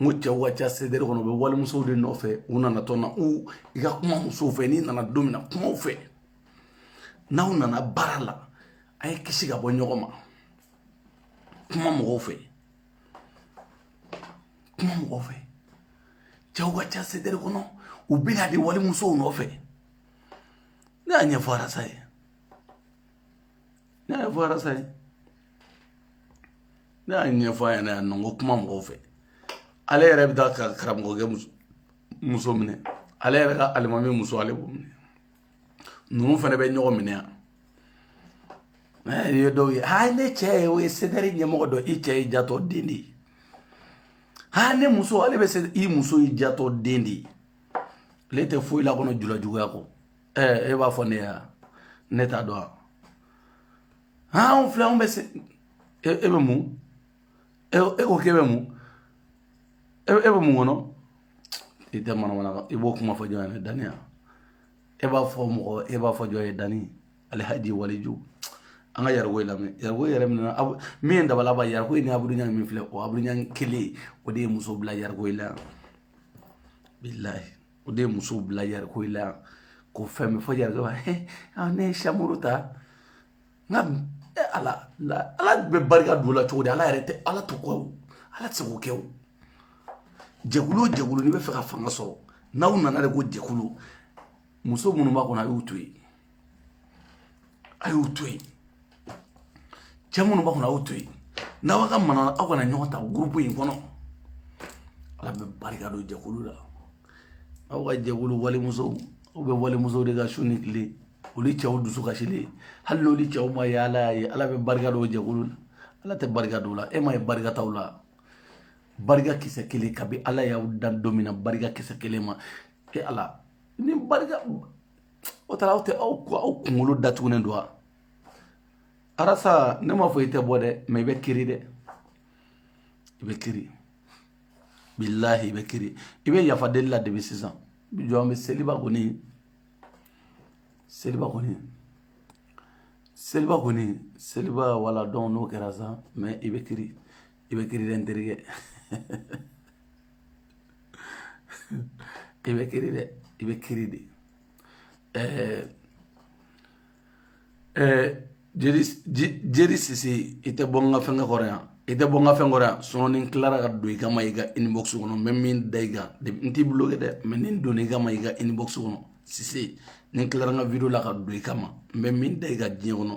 [SPEAKER 1] n ko cɛw ka ca sɛdɛrɛ kɔnɔ u bɛ walimusow de nɔfɛ u nana tɔn na u i ka kuma musow fɛ n'i nana don min na kumaw fɛ n'aw nana baara la a ye kisi ka bɔ ɲɔgɔn ma kuma mɔgɔw fɛ kuma mɔgɔw fɛ cɛw ka ca sɛdɛrɛ kɔnɔ u bɛ na de walimusow nɔfɛ ne y'a ɲɛfɔ arasa ye ne y'a fɔ arasa ye ne y'a ɲɛfɔ a ɲɛna yan nɔ n ko kuma mɔgɔw fɛ ale yɛrɛ bɛ taa ka karamɔgɔkɛ muso muso minɛ ale yɛrɛ ka alimami muso ale b'o minɛ ninnu fana bɛ ɲɔgɔn minɛ yan ye dɔw ye aa ne cɛ ye o ye sedɛri ɲɛmɔgɔ dɔ i cɛ ye jatɔ den de ye aa ne muso ale bɛ se i muso ye jatɔ den de ye ale tɛ foyi la kɔnɔ julajuguya kɔ ɛɛ e b'a fɔ ne ye ne t'a dɔn wa han anw filɛ anw bɛ se e e bɛ mun e e ko k'e bɛ mun e e bɛ mun kɔnɔ i tɛ manamana kan i b'o kuma fɔ jɔn ye ne daniya e b'a fɔ mɔgɔ e b'a fɔ jɔn ye dani alihaji waliju an ka yariko in lamɛn yariko yɛrɛ minɛ min ye dabalaba yariko in ni abudu ɲang min filɛ o abudu ɲang kelen o de ye muso bila yariko in la yan bilahi o de ye musow bila yariko in la yan ko fɛn min fɔ yɛrɛ dɔrɔn ne ye samuru ta nka eh, ala ala bɛ barika don la cogo di ala yɛrɛ tɛ ala to kɔ ala tɛ se k'o kɛ o jɛkulu o jɛkulu n'i bɛ fɛ ka fanga sɔrɔ n'aw nana de ko jɛkulu muso minnu b'a kɔnɔ a y'u to yen a y'u to yen cɛ minnu b'a kɔnɔ a y'u to yen n'aw ka mana aw kana ɲɔgɔn ta gurupu in kɔnɔ ala bɛ barika don jɛkulu la aw ka jɛkulu walimusow aw bɛ walimusow de kan su ni tile olu cɛw dusu kasilen hali n'olu cɛw m'a ye ala y'a ye ala bɛ barika don jɛkulu la ala tɛ barika don la e m'a ye barika t'aw la barika kisɛ kelen kabi ala y'aw dan don min na barika kisɛ kelen ma ye aw la ni barika o taara aw tɛ aw kunkolo datugunen don wa arasa ne m'a fɔ i tɛ bɔ dɛ mɛ i bɛ kiri dɛ i bɛ kiri bilahi i bɛ kiri i bɛ yafa deli la debi sisan jɔ an bɛ seliba kɔni seliba kɔni seliba kɔni seliba wala dɔn n'o kɛra sa mɛ i bɛ kiri i bɛ kiri n terikɛ i bɛ kiri dɛ i bɛ kiri de ɛɛ ɛɛ jeri jeri sise i tɛ bɔ n ka fɛnkɛ kɔrɔ yan i tɛ bɔ n ka fɛn kɔrɔ yan sinon ni n tilara ka don i kama i ka inbox kɔnɔ n bɛ min da i kan n t'i bloqué dɛ mɛ ni n donna i kama i ka inbox kɔnɔ sise ni n tilara n ka video la ka don i kama n bɛ min da i kan diɲɛ kɔnɔ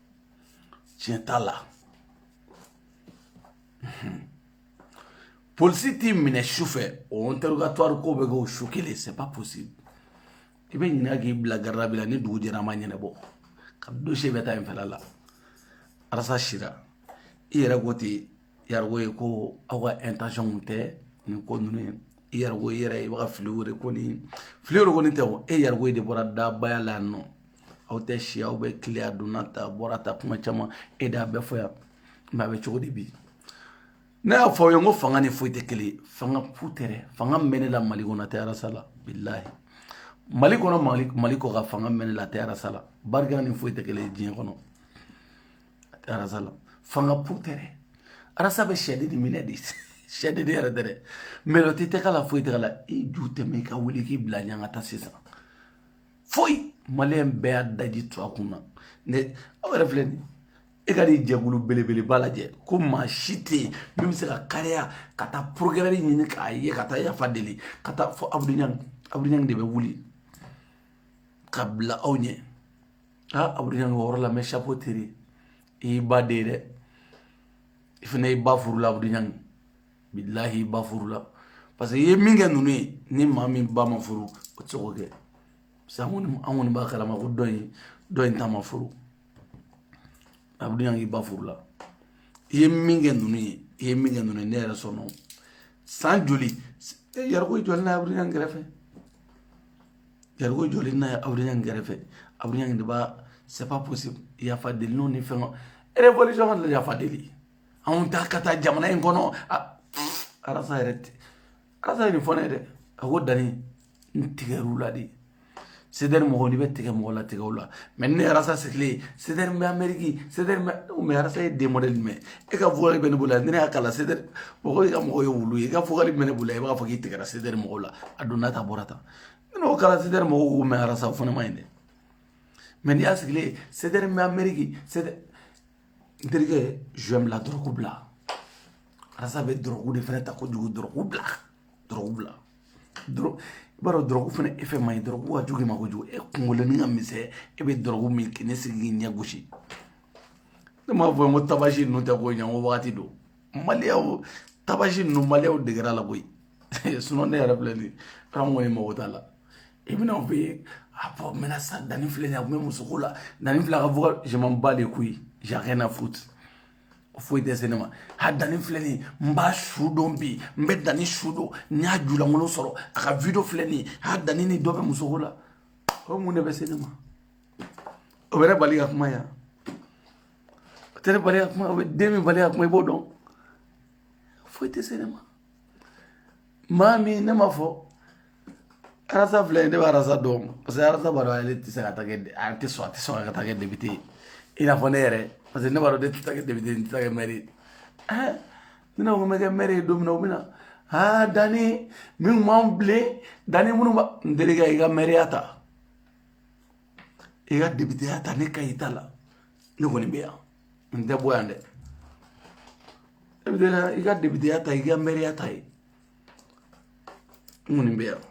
[SPEAKER 1] tiɲɛ t'a la polisi t'i minɛ su fɛ o interrogatoire k'o bɛɛ kɛ o su kelen c'est pas possible i bɛ ɲininka k'i bila garde à vue la ni dugu jɛra a ma ɲɛnabɔ ka dossier bɛ taa yen fɛla la arasa sira i yɛrɛ ko ten Ya ye ko aw ka intention tɛ nin ko ninnu ye i yɛrɛ i yɛrɛ i bɛ fili wele ko fili kɔni tɛ e Yargo de bɔra dabaya la nɔ aw tɛ si aw bɛ tile a donna tan bɔra tan kuma caman e de y'a bɛɛ fɔ yan mɛ a bɛ cogo di bi ne y'a fɔ aw ye ko fanga ni foyi tɛ kelen fanga fu tɛ fanga bɛ ne la mali kɔnɔ tɛ arasa la bilayi mali kɔnɔ mali kɔkan fanga bɛ ne la tɛ arasa la barika ni foyi tɛ kelen diɲɛ kɔnɔ arasa la fanga fu tɛ dɛ arasa bɛ sɛ de di minɛ de sɛ de de yɛrɛ tɛ dɛ mɛ o tɛ k'a la foyi tɛ k'a la i ju tɛmɛ i ka wuli k'i bila ɲɛ an ka taa sisan foyi maliyɛn bɛɛ y'a daji to a kun na ne aw yɛrɛ filɛ nin e ka nin jɛkulu belebeleba lajɛ ko maa si tɛ yen min bɛ se ka kariya ka taa procureur ɲini k'a ye ka taa yafa deli ka taa fɔ abudu ɲang abudu ɲang de bɛ wuli ka bila aw ɲɛ aa abuduli ɲangi o yɔrɔ la n bɛ chapeau tiré i y'i ba den ye dɛ i fana i ba furula abuduli ɲangi bilahi i ba furula parce que i ye min kɛ ninnu ye ni maa min ba ma furu o tɛ se k'o kɛ parce que an kɔni an kɔni b'a kalama ko dɔ in dɔ in ta ma furu abuduli ɲangi i ba furula i ye min kɛ ninnu ye i ye min kɛ ninnu ye ne yɛrɛ sɔnna o san joli Yargo jɔlen na abuduli ɲangi kɛrɛfɛ Yargo jɔlen na abudu ɲang kɛrɛfɛ abudu ɲang de bba se'si yafa deli n' ni fɛn erfɔli caman de yafa deli anw ta ka taa jamana in kɔnɔ arasa yɛrɛ tɛ arasa ye nin fɔ ne ye dɛ a ko dani n tigɛr'u la de sedɛri mɔgɔ ni bɛ tigɛ mɔgɔ la tigɛ la mɛ ne arasa sigilen sedɛri mɛ ameriki sedɛri mɛ arasa ye den modɛli jumɛn e ka vocal bɛ ne bolo la ne y'a kala sedɛri mɔgɔ o mɔgɔ ye wulu ye i ka vocal bɛ ne bolo la i b'a fɔ k'i tigɛ sedɛri mɔgɔw la a donna tan bɔra tan ne n'o kɛra sedɛri mɔgɔw ko mɛ arasa o fana man ɲi dɛ mɛ n'i y'a sigilen ye sedɛri mɛ ameriki sedɛri n terikɛ zuwɛn bila dɔrɔku bila arasa bɛ dɔrɔku de fana ta kojugu dɔrɔku bila dɔrɔku bila dɔrɔ i b'a dɔn dɔrɔku fana efɛ man ɲi dɔrɔku ka jugu i ma kojugu e kunkoloni ka misɛn e bɛ dɔrɔku min ka na sigi k'i ɲɛ gosi ne m'a fɔ n ko tabasi ninnu tɛ ko ɲɛ n ko wagati don maliyaw tabasi ninnu maliyaw degera la koyi sinon ne yɛrɛ filɛ nin ye an kɔni mago t'a la i bɛna u bɛ a bɔ menace a danni filɛ nin ye a tun bɛ musoko la danni filɛ a ka vocal je m'en bats les couilles j'ai rien à foutre foyi tɛ se ne ma a danni filɛ nin ye n b'a su don bi n bɛ danni su don n y'a julankolon sɔrɔ a ka video filɛ nin ye a danni ni dɔ bɛ musoko la o mun de bɛ se ne ma o bɛ ne bali ka kuma yan tɛ ne bali ka kuma o tɛ ne bali ka kuma i b'o dɔn foyi tɛ se ne ma maa min ne ma fɔ arasa filɛ ne bɛ arasa dɔn parce que arasa b'a dɔn ale tɛ se ka taa kɛ a tɛ sɔn a tɛ sɔn ka taa kɛ depite ye i n'a fɔ ne yɛrɛ parce que ne b'a dɔn ne tɛ taa kɛ depite n tɛ taa kɛ mɛri ye ɛɛ ni ne ko n bɛ kɛ mɛri ye don min na o bɛ na aa danni minnu b'an bilen danni minnu b'a n terikɛ i ka mɛriya ta. i ka depiteya ta ne ka i ta la ne kɔni bɛ yan n tɛ bɔ yan dɛ e bɛ taa i ka depiteya ta i ka mɛriya ta n kɔni bɛ yan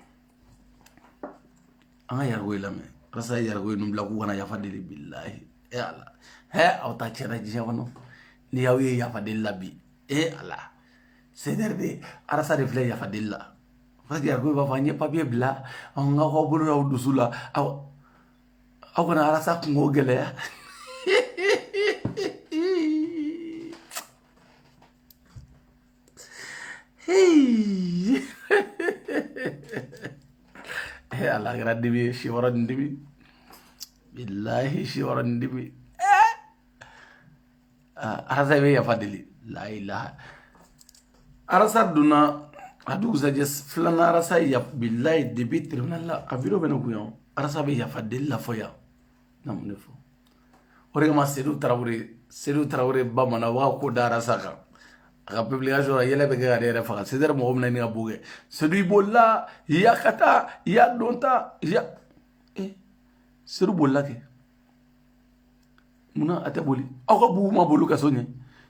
[SPEAKER 1] an ka yarago ye lamɛn arasa yarago ye ninnu bila k'u ka na yafa deli bilahi e ala hɛ aw ta tiɲɛna diɲɛ kɔnɔ ni y'aw ye yafa deli la bi e ala sedɛri de arasa de filɛ yafa deli la yarago b'a fɔ n ye papiye bila an ka aw bolo aw dusu la aw aw kana arasa kunko gɛlɛya ala kɛra dibi ye si wɔɔrɔ ni dibi bilahi si wɔɔrɔ ni dibi arasa bɛ yafa deli layilaha arasa donna a dugusajɛ filanan arasa bilayi debi tiribinali la a wideyo bɛ ne kun yan arasa bɛ yafa deli la fɔ yan na mun de fɔ o de kama sedu tarawele sedu tarawele bamanan u b'a ko da arasa kan a ka publication la yɛlɛ bɛ ka ne yɛrɛ faga sedɛri mɔgɔ mina ni ka bo kɛ sedu i bolila i y'a ka taa i y'a don ta i y'a sedu bolila kɛ munna a tɛ boli a ko bubu ma boli kaso ɲɛ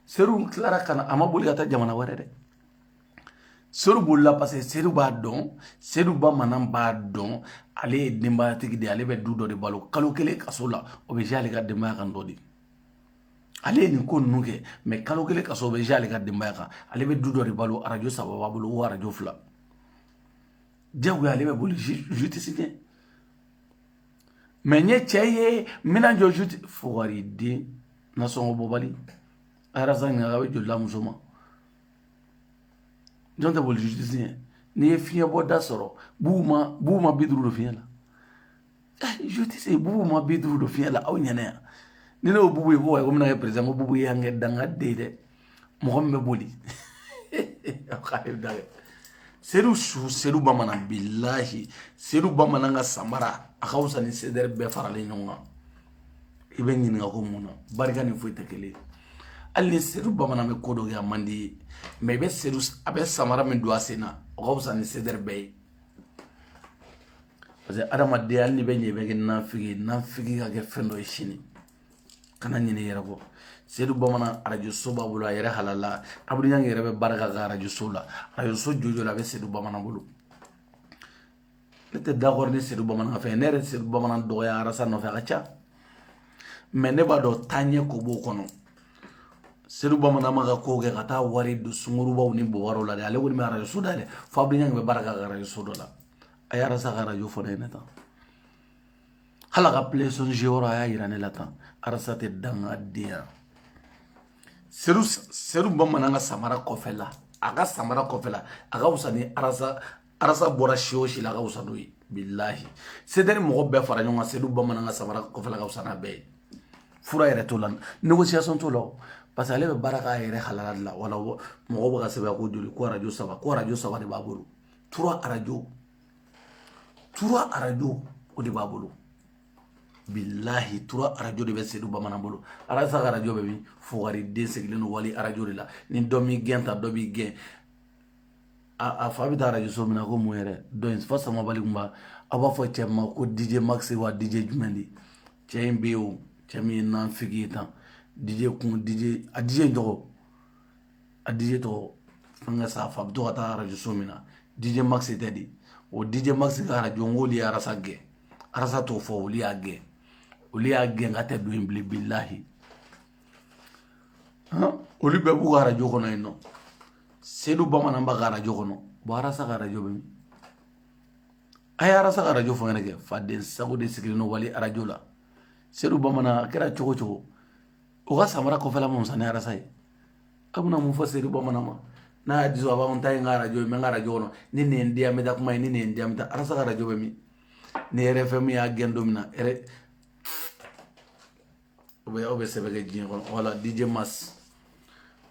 [SPEAKER 1] sedu tilara ka na a ma boli ka taa jamana wɛrɛ dɛ sedu bolila parce que sedu b'a dɔn sedu bamanan b'a dɔn ale ye denbayatigi de ye ale bɛ du dɔ de balo kalo kelen kaso la o bɛ jouer ale ka denbaya kan dɔ de ale ye nin ko ninnu kɛ mɛ kalo kelen kaso o bɛ jouer ale ka denbaya kan ale bɛ du dɔ de balo arajo saba b'a bolo o arajo fila diyagoya ale bɛ boli jutisi ɲɛ mɛ n ye cɛ ye n bɛna jɔ su fugariden nasɔngɔ bɔbali arasa ɲaga bɛ jolila muso ma jɔn tɛ boli jutisi ɲɛ n'i ye fiɲɛ bɔda sɔrɔ bubu ma bubu ma bi duuru don fiɲɛ la jutisi bubu ma bi duuru don fiɲɛ la aw ɲɛna yan ni ne y'o bubu ye ko wa ko n bɛna kɛ perezidan ko bubu ye yan kɛ danga den dɛ mɔgɔ min bɛ boli sedu su sedu bamanan bilahi sedu bamanan ka samara a ka fisa ni sedɛri bɛɛ faralen ɲɔgɔn kan i bɛ ɲininka ko mun na barika ni foyi tɛ kelen hali ni sedu bamanan bɛ ko dɔ kɛ a man di n ye mɛ i bɛ sedu a bɛ samara min don a sen na o ka fisa ni sedɛri bɛɛ ye parce que adamadenya hali n'i bɛ ɲɛ i bɛ kɛ nafigi ye nafigi ka kɛ fɛn dɔ ye sini kana ɲinɛ yɛrɛ ko seyidu bamanan arajo so b'a bolo a yɛrɛ halala abudu ɲangi yɛrɛ bɛ baara k'a ka arajo so la arajo so jɔjɔ la a bɛ seyidu bamanan bolo ne tɛ d'accord ni seyidu bamanan fɛ ne yɛrɛ seyidu bamanan dɔgɔya arasa nɔfɛ a ka ca mais ne b'a dɔn taaɲɛ ko b'o kɔnɔ seyidu bamanan m'a ka ko kɛ ka taa wari don sungurubaw ni bɔwaraw la dɛ ale kɔni bɛ arajo so dayɛlɛ fo abudu ɲangi bɛ baara k'a ka arajo so dɔ la a ye arasa ka arajo fɔ ne ɲɛna tan hali a ka plɛsɔn yɔrɔ a y'a yira ne la tan arasa tɛ danga denya sedu sedu bamanan ka samara kɔfɛla a ka samara kɔfɛla a ka fisa ni arasa arasa bɔra si o si la a ka fisa n'o ye bilahi cdr mɔgɔ bɛɛ fara ɲɔgɔn kan sedu bamanan ka samara kɔfɛla a ka fisa n'a bɛɛ ye fura yɛrɛ t'o la négociation t'o la parce que ale bɛ baara k'a yɛrɛ halala de la wala mɔgɔw bɛ k'a sɛbɛn ko joli ko arajo saba ko arajo saba de b'a bolo trois radio trois radio o de b'a bolo bilahi trois radio de bɛ sedu bamanan bolo arasa ka arajo bɛ min fugari den sigilen don wali arajo de la ni dɔ m'i gɛn ta dɔ b'i gɛn a fa bɛ taa arajo so min na ko mun yɛrɛ dɔ in fa samabali tun b'a aw b'a fɔ cɛ ma ko dj max wa dj jumɛn de cɛ in bɛ yen o cɛ min ye nanfigi ye tan dj kun dj a dj in tɔgɔ a DJ tɔgɔ fɛnkɛ sa fa bɛ to ka taa radio so min na DJ Max tɛ de o DJ Max ka radio n ko olu ye arasa gɛn arasa t'o fɔ olu y'a gɛn olu y'a gɛn k'a tɛ don yen bilen bilahi olu bɛɛ b'u ka arajo kɔnɔ yen non sedu bamanan b'a ka arajo kɔnɔ bon arasa ka arajo bɛ min a ye arasa ka arajo fɔ n ɲɛna kɛ faden sago de sigilen don wali arajo la sedu bamanan a kɛra cogo o cogo o ka samara kɔfɛla ka fisa ni arasa ye a bɛna mun fɔ sedu bamanan ma n'a y'a diso a b'a fɔ n ta ye n ka arajo ye n bɛ n ka arajo kɔnɔ ni nin ye n diya n bɛ taa kuma yen ni nin ye n diya n bɛ taa arasa ka arajo bɛ min ni rfm y'a gɛn don min na r o bɛ aw bɛ sɛbɛn kɛ diɲɛ kɔnɔ wala dj max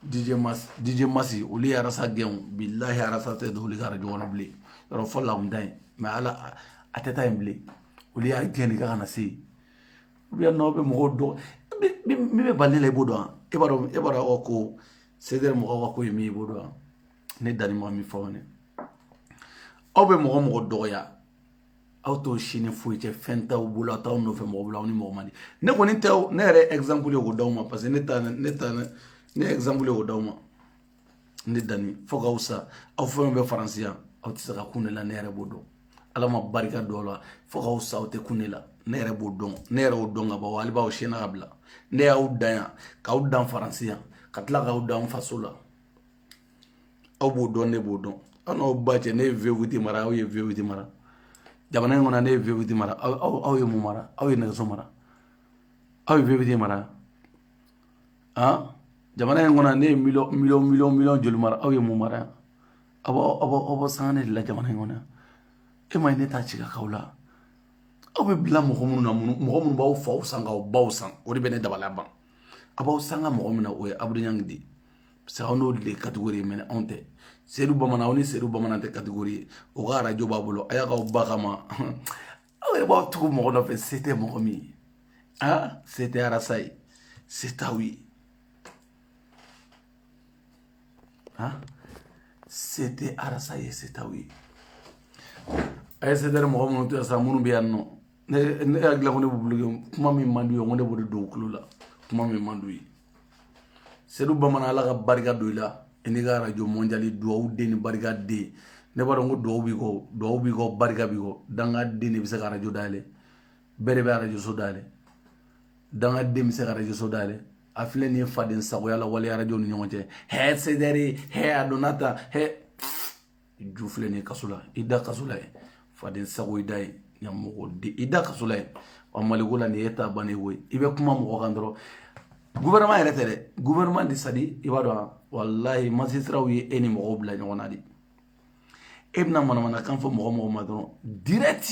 [SPEAKER 1] dj max dj max olu ye arasa gɛn bilahi arasa tɛ don olu ka arajo kɔnɔ bilen yɔrɔ fɔlɔ a tun bɛ taa yen mais ala a tɛ taa yen bilen olu y'a gɛn de k'a kana se yen ou bien n'aw bɛ mɔgɔw dɔn min bɛ bali la i b'o dɔn e b'a dɔn e b'a dɔn aw ko cdr mɔgɔw ka ko ye min ye i b'o dɔn ne danni ma min fɔ ne aw bɛ mɔgɔ mɔgɔ dɔgɔya aw t'o sini foyi cɛ fɛn t'aw bolo aw t'aw nɔfɛ mɔgɔ bolo aw ni mɔgɔ man di ne kɔni tɛ ne yɛrɛ exemple ye k'o d'aw ma parce que ne ta ne ta ne exemple ye k'o d'aw ma ne danni fo k'aw sa aw fɛn bɛ faransi yan aw tɛ se ka kun ne la ne yɛrɛ b'o dɔn ala ma barika don aw la fo k'aw sa aw tɛ kun ne la ne yɛrɛ b'o dɔn ne yɛrɛ y'o dɔn ka ban hali b'aw sena ka bila ne y'aw dan yan k'aw dan faransi yan ka tila k'aw dan faso la aw b'o dɔn ne b'o dɔn aw n'aw ba cɛ ne ye vewiti mara aw ye vewiti mara jamana in kɔnɔ ne ye vewiti mara aw ye mun mara aw ye nɛgɛso mara aw ye vewiti mara jamana in kɔnɔ ne ye miliyɔn joli mara aw ye mun mara yan aw aw b'aw sanga ne de la jamana in kɔnɔ e m'a ye ne taa cikaw la aw bɛ bila mɔgɔ minnu na mɔgɔ minnu b'aw faw san k'aw baw san o de bɛ ne dabali ban a b'aw sanga mɔgɔ min na o ye abudu ɲangi de ye parce que aw n'olu de kategori ye mais anw tɛ sedu bamanan aw ni sedu bamanan tɛ kategori ye o ka arajo b'a bolo a y'a k'aw ba kama aw yɛrɛ b'aw tugu mɔgɔ nɔfɛ se tɛ mɔgɔ min ye a se tɛ arasa ye se t'aw ye a se tɛ arasa ye se t'aw ye a ye se tɛ mɔgɔ minnu to yan sa minnu bɛ yan nɔ ne ne hakili la ko ne b'u bolo kuma min man d'u ye ko ne b'o de don u tulo la kuma min man d'u ye sedu bamanan ala ka barika don i la i n'i ka arajo mɔndiyali dugawu den ni barika den ne b'a dɔn ko dugawu b'i kɔ dugawu b'i kɔ barika b'i kɔ dangaden de bɛ se ka arajo dayɛlɛ bɛɛ de bɛ arajo so dayɛlɛ dangaden bɛ se ka arajo so dayɛlɛ a filɛ nin ye faden sagoya la wale arajo ni ɲɔgɔn cɛ hɛ sedɛri hɛ a donna ta hɛ ju filɛ nin ye kaso la i da kaso la ye faden sago i da ye ɲamɔgɔden i da kaso la ye wa maliko la nin ye ta bannen koyi i bɛ kuma mɔgɔ kan dɔrɔn gouvernement yɛrɛ tɛ dɛ gouvernement de c'est-à-dire i b'a dɔn walahi magistratw ye e ni mɔgɔw bila ɲɔgɔn na de e bɛna manamanakan fɔ mɔgɔ mɔgɔ ma dɔrɔn direct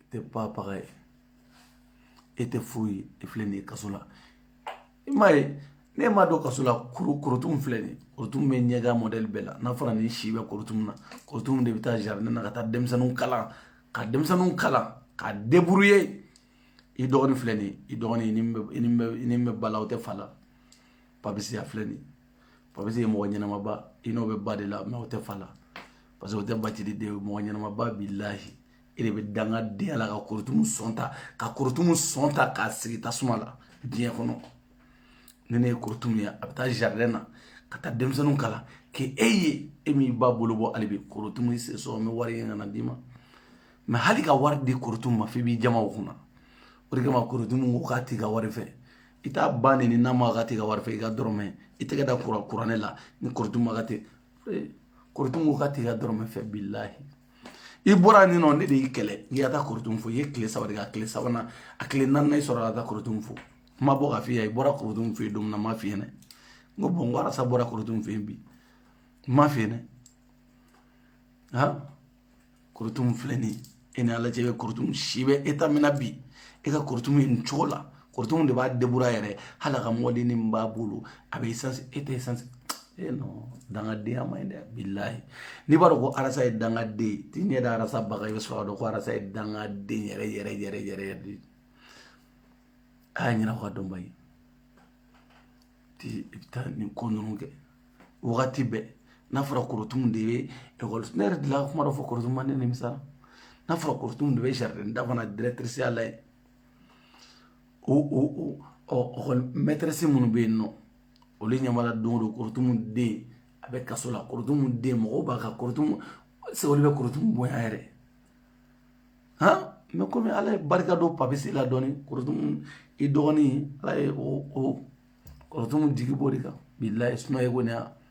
[SPEAKER 1] i tɛ babaga ye e tɛ foyi ye e filɛ nin ye kaso la i m'a ye ne m'a dɔn kaso la korotum filɛ nin korotum bɛ ɲɛgan mɔdɛli bɛɛ la n'a fɔra nin si bɛ korotum na korotum de bɛ taa jardin na ka taa denmisɛnninw kalan ka denmisɛnninw kalan ka débrouiller i dɔgɔnin filɛ nin i dɔgɔnin i ni bɛ i ni bɛ i ni bɛ ba la o tɛ fa la papisi a filɛ nin papisi ye mɔgɔ ɲɛnamaba i n'o bɛ ba de la mais o tɛ fa la parce que o tɛ bacili den ye mɔgɔ ɲɛnamaba bilahi e de bɛ dangadenya la ka korotumu sɔn ta ka korotumu sɔn ta k'a sigi tasuma la diɲɛ kɔnɔ ni ne ye korotumu ye a bɛ taa jardin na ka taa denmisɛnninw kalan k'e e ye e min ba bolo bɔ hali bi korotumu i sen sɔgɔ n bɛ wari ɲini ka na d'i ma mais hali ka wari di korotumu ma f'i b'i jaman o kunna o de kama korotumu ko k'a t'i ka wari fɛ i t'a ba neni n'a ma k'a t'i ka wari fɛ i ka dɔrɔmɛ i tɛgɛ da kuranɛ la ni korotumu ma ka tɛ korotumu ko k'a t'i ka dɔrɔmɛ fɛ bilahi i bɔra nin nɔ ne de y'i kɛlɛ k'i ka taa korotumu fo i ye tile saba de kɛ a tile sabanan a tile naaninan i sɔrɔ ka taa korotumu fo n ma bɔ ka f'i ye i bɔra korotumu fo yen don min na n ma f'i ɲɛna n ko bɔn n ko arasa bɔra korotumu fo yen bi n ma f'i ɲɛna ha korotumu filɛ nin ye e ni ala cɛ bɛ korotumu si bɛ eta min na bi e ka korotumu ye nin cogo la korotumu de b'a debura yɛrɛ hali ka motonin min b'a bolo a bɛ isansi e tɛ isansi e nɔ dangadenya ma ɲi dɛ bilayi n'i b'a dɔn ko arasa ye dangaden t'i ɲɛ da arasa ba kan i bɛ sɔrɔ k'a dɔn ko arasa ye dangaden yɛrɛ yɛrɛ yɛrɛ yɛrɛ yɛrɛ de a y'a ɲɛna ka dɔnba ye ti i bɛ taa nin ko ninnu kɛ wagati bɛɛ n'a fɔra korotumu de bɛ ekɔli ne yɛrɛ delila ka kuma dɔ fɔ korotumu ma ne nimisa n'a fɔra korotumu de bɛ jardin d'enfants directriceya la yen o o o ɔ ekɔli mɛtɛrɛsi minnu bɛ yen nɔ olu ɲɛ b'a la don o don korotumu den a bɛ kaso la korotumu den mɔgɔw b'a ka korotumu se olu bɛ korotumu bonya yɛrɛ han mɛ komi ala ye barika don papisi la dɔɔnin korotumu i dɔgɔnin ala ye o o korotumu jigi b'o de kan bilayi sumaya ko ne y'a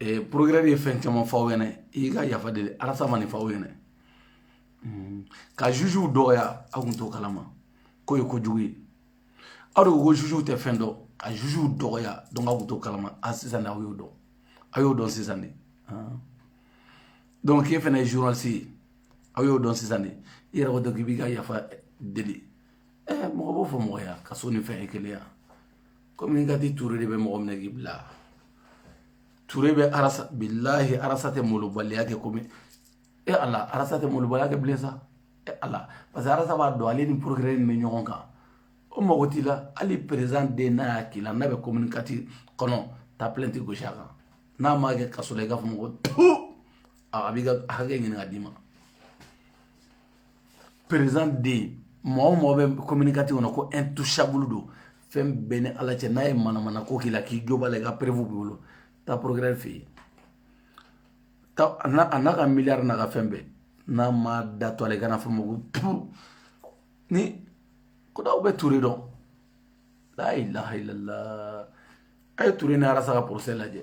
[SPEAKER 1] eh, procureur ye fɛn caman fɔ aw ɲɛna i ka yafa deli arasa ma nin fɔ aw ɲɛna hmm. ka jujuw dɔgɔya aw kun t'o kalama k'o ye kojugu ye aw de ko ko jujuw tɛ fɛn dɔn ka jujuw dɔgɔya donc aw kun t'o kalama a sisan de aw y'o dɔn aw y'o dɔn sisan de donc k'e fana ye journaliste ye aw y'o dɔn sisan de i yɛrɛ ko dɔn k'i b'i ka yafa deli eh, mɔgɔ b'o fɔ mɔgɔ ya kaso ni fɛn ye kelen ya kɔmi ka di ture de bɛ mɔgɔ minɛ k'i bila ture bɛ arasa bilahi arasa tɛ malobaliya kɛ komi e ala arasa tɛ malobaliya kɛ bilen sa e ala parce que arasa b'a dɔn ale ni procureur min bɛ ɲɔgɔn kan o mago t'i la hali perezan den n'a y'a k'i la n'a bɛ commune quatre kɔnɔ taa pilɛnti gosi a kan n'a m'a kɛ kaso la i k'a fɔ n ma ko tu a b'i ka hakɛ ɲini ka d'i ma perezan den mɔgɔ o mɔgɔ bɛ commune quatre kɔnɔ ko intouchable don fɛn bɛɛ ni ala cɛ n'a ye manamana ko k'i la k'i jo b'a la i ka preuve b'i bolo taa procureur fɛ yen a n'a ka miliyari n'a ka fɛn bɛɛ n'a ma da tugu a la i ka n'a fɔ n ma ko puu ni o don aw bɛ ture dɔn la ilaha illallah a ye ture ni arasa ka porosɛ lajɛ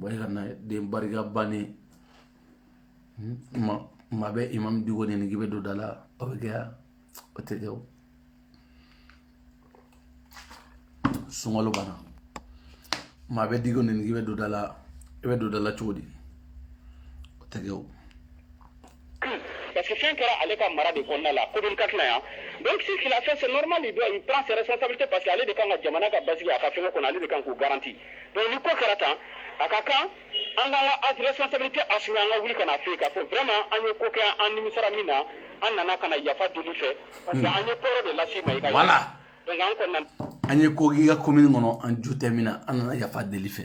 [SPEAKER 1] barikantan den barika bannen maa bɛ imam diko nɛni k'i bɛ don da la o bɛ kɛ yan o tɛ kɛ o sunkalo banna maa bɛ diko nɛni k'i bɛ don da la i bɛ don da la cogo di o tɛ kɛ o
[SPEAKER 2] parce que fɛn kɛra ale ka mara de kɔnɔna la commune ka tila yan donc ce qu'il a fait c'est normal de don il prend ses responsabilités parce que ale de kan ka jamana ka basigi a ka fɛn kɔnɔ ale de kan k'u garanti donc ni ko kɛra tan a ka kan an ka an ka responsabilité assumer an ka wuli ka na fɔ ko vraiment an ye ko kɛ an nimisara min na an nana ka na yafa deli i fɛ parce que an ye tɔɔrɔ de lase i ma voilà donc an ye
[SPEAKER 1] ko kɛ i ka commune kɔnɔ an jo tɛ min na an nana yafa deli i fɛ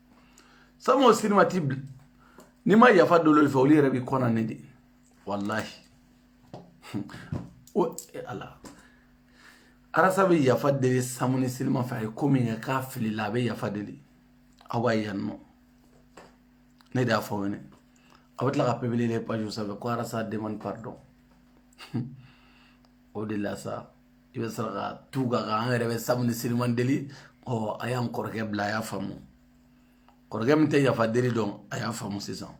[SPEAKER 1] samu ni seliman t'i bila n'i ma yafa deli olu fɛ olu yɛrɛ b'i kɔnɔ ne de walahi o e ala arasa bɛ yafa deli samu ni seliman fɛ a ye ko min kɛ k'a filila a bɛ yafa deli aw b'a yan nɔ ne de y'a fɔ wɛnɛ aw bɛ tila ka publier les pages sanfɛ ko arasa demande pardon o de la sa i bɛ sɔrɔ ka tugu a kan an yɛrɛ bɛ samu ni seliman deli ɔ a y'an kɔrɔkɛ bila a y'a faamu kɔrɔkɛ min tɛ yafa deli dɔn a y'a faamu sisan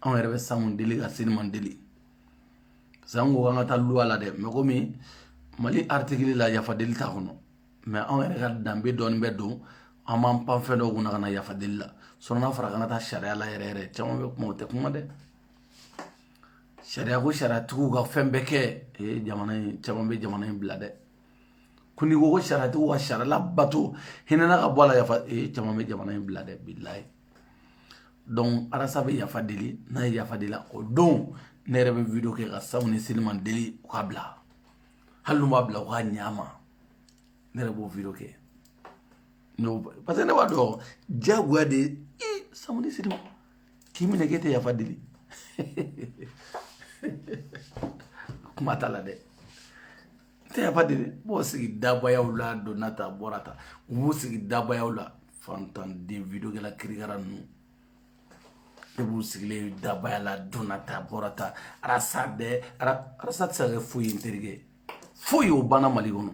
[SPEAKER 1] anw yɛrɛ bɛ samu deli ka seliman deli parce que an ko an ka taa loi la dɛ mais komi mali article la yafa deli t'a kɔnɔ mais anw yɛrɛ ka danbe dɔɔni bɛ don an b'an pan fɛn dɔw kunna ka na yafa deli la sinon n'a fɔra k'an ka taa sariya la yɛrɛ yɛrɛ caman bɛ kuma o tɛ kuma dɛ sariya ko sariyatigiw ka fɛn bɛɛ kɛ ee jamana in caman bɛ jamana in bila dɛ ko n'i ko ko sariyatigiw ka sariya labato hinɛna ka bɔ a la yafa ee caman bɛ jamana in bila dɛ bilayi donc arasa bɛ yafa deli n'a ye yafa deli o don ne yɛrɛ bɛ video kɛ ka samu ni seliman deli u k'a bila hali n'u m'a bila u ka ɲɛ a ma ne yɛrɛ b'o video kɛ parce que ne b'a dɔn diyagoya de ye samu ni seliman k'i minɛ k'e tɛ yafa deli kuma t'a la dɛ tɛ yafa deli b'u sigi dabayaw la donna ta bɔra ta u b'u sigi dabayaw la fantanden videokɛla kirikara ninnu e b'u sigilen dabaya la donna ta bɔra ta arasa bɛɛ arasa tɛ se ka kɛ foyi ye n terikɛ foyi y'o banna mali kɔnɔ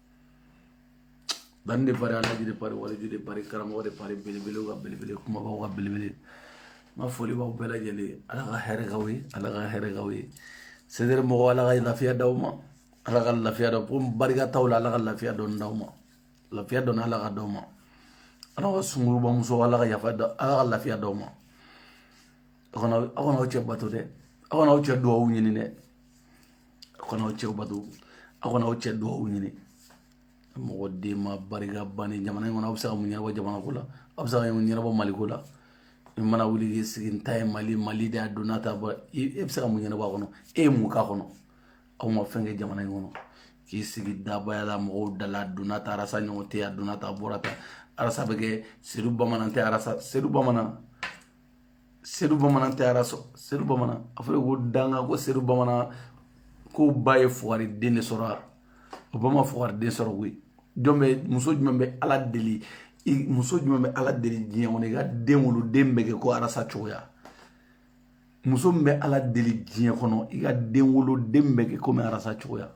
[SPEAKER 1] Ban de Paris alaji de Paris wali de Paris karamɔgɔ de Paris belebele ka belebele kumabaw ka belebele n ka foli b'aw bɛɛ lajɛlen ala ka hɛrɛ k'aw ye ala ka hɛrɛ k'aw ye sɛdɛrɛ mɔgɔ ala ka lafiya d'aw ma ala ka lafiya dɔ ko barika t'aw la ala ka lafiya dɔrɔn d'aw ma lafiya dɔrɔn ala k'a d'aw ma ala ka sungurunba musow ala ka yafa ala ka lafiya d'aw ma aw kana aw cɛ bato dɛ aw kana aw cɛ dugawu ɲini dɛ aw kana aw cɛw bato aw kana aw cɛ dugawu ɲini mɔgɔ den ma barika banni jamana in kɔnɔ aw bɛ se ka mun ɲɛnabɔ jamana ko la aw bɛ se ka mun ɲɛnabɔ mali ko la i mana wuli k'i sigi n ta ye mali mali de y'a donna ta bɔ i e bɛ se ka mun ɲɛnabɔ a kɔnɔ e ye mun k'a kɔnɔ aw ma fɛn kɛ jamana in kɔnɔ k'i sigi dabaya la mɔgɔw dala donna ta arasa ɲɔgɔn tɛ a donna ta a bɔra ta arasa bɛ kɛ sedu bamanan tɛ arasa sedu bamanan sedu bamanan tɛ arasa sɔrɔ sedu bamanan a fɔra ko danga ko sedu bamanan ko ba ye fugari den de sɔrɔ a o ba ma fugari den sɔrɔ koyi jɔn bɛ muso jumɛn bɛ ala deli muso jumɛn bɛ ala deli diɲɛ kɔnɔ i ka den wolo den bɛ kɛ ko arasa cogoya muso min bɛ ala deli diɲɛ kɔnɔ i ka den wolo den bɛ kɛ komi arasa cogoya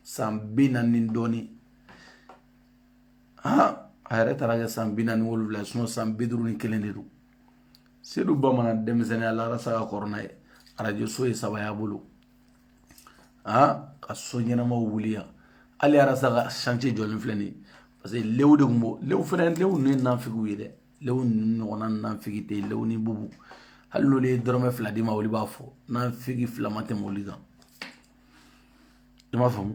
[SPEAKER 1] san bi naani ni dɔɔnin han a yɛrɛ taara kɛ san bi naani wolonwula san bi duuru ni kelen de don sedu bamanan denmisɛnninya la arasa ka kɔrɔ n'a ye arajo so ye saba y'a bolo a ka so ɲɛnamaw wuli yan hali arasa ka chantier jɔlen filɛ nin ye parce que lew de tun b'o lew fɛnɛ lew ninnu ye nanfigiw ye dɛ lew ninnu ɲɔgɔnna nanfigi tɛ yen lew ni bubu hali n'olu ye dɔrɔmɛ fila d'i ma olu b'a fɔ nanfigi fila ma tɛmɛ olu kan i m'a faamu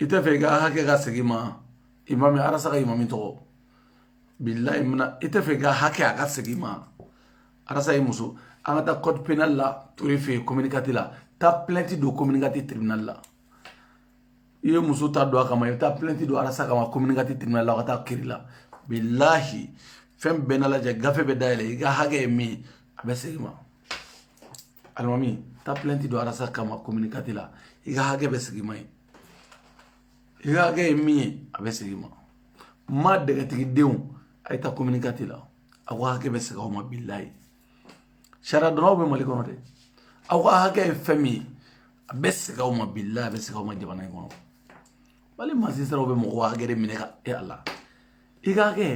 [SPEAKER 1] i tɛ fɛ i ka hakɛ ka segin i ma imami arasa ka imami tɔgɔ bilayi mina i tɛ fɛ i ka hakɛ a ka segin i ma arasa ye muso an ka taa code pénal la ture fɛ yen commune quatre la taa plainte don commune quatre tribunal la i ye muso ta don a kama i bɛ taa plainte don arasa kama commune quatre tribunal la ka taa kiri la bilahi fɛn bɛna lajɛ gafe bɛ dayɛlɛ i ka hakɛ ye min ye a bɛ segin i ma alimami taa pilɛti don arasa kama komini kati la i ka hakɛ bɛ segin i ma ye i ka hakɛ ye min ye a bɛ segin i ma ma dɛgɛtigi denw a ye taa komini kati la aw ka hakɛ bɛ segin aw ma bilayi sariya dɔnnaw bɛ mali kɔnɔ dɛ aw ka hakɛ ye fɛn min ye a bɛ segin aw ma bilayi a bɛ segin aw ma jamana in kɔnɔ mali mazisitaraw bɛ mɔgɔw hakɛ de minɛ ka e ala i ka hakɛ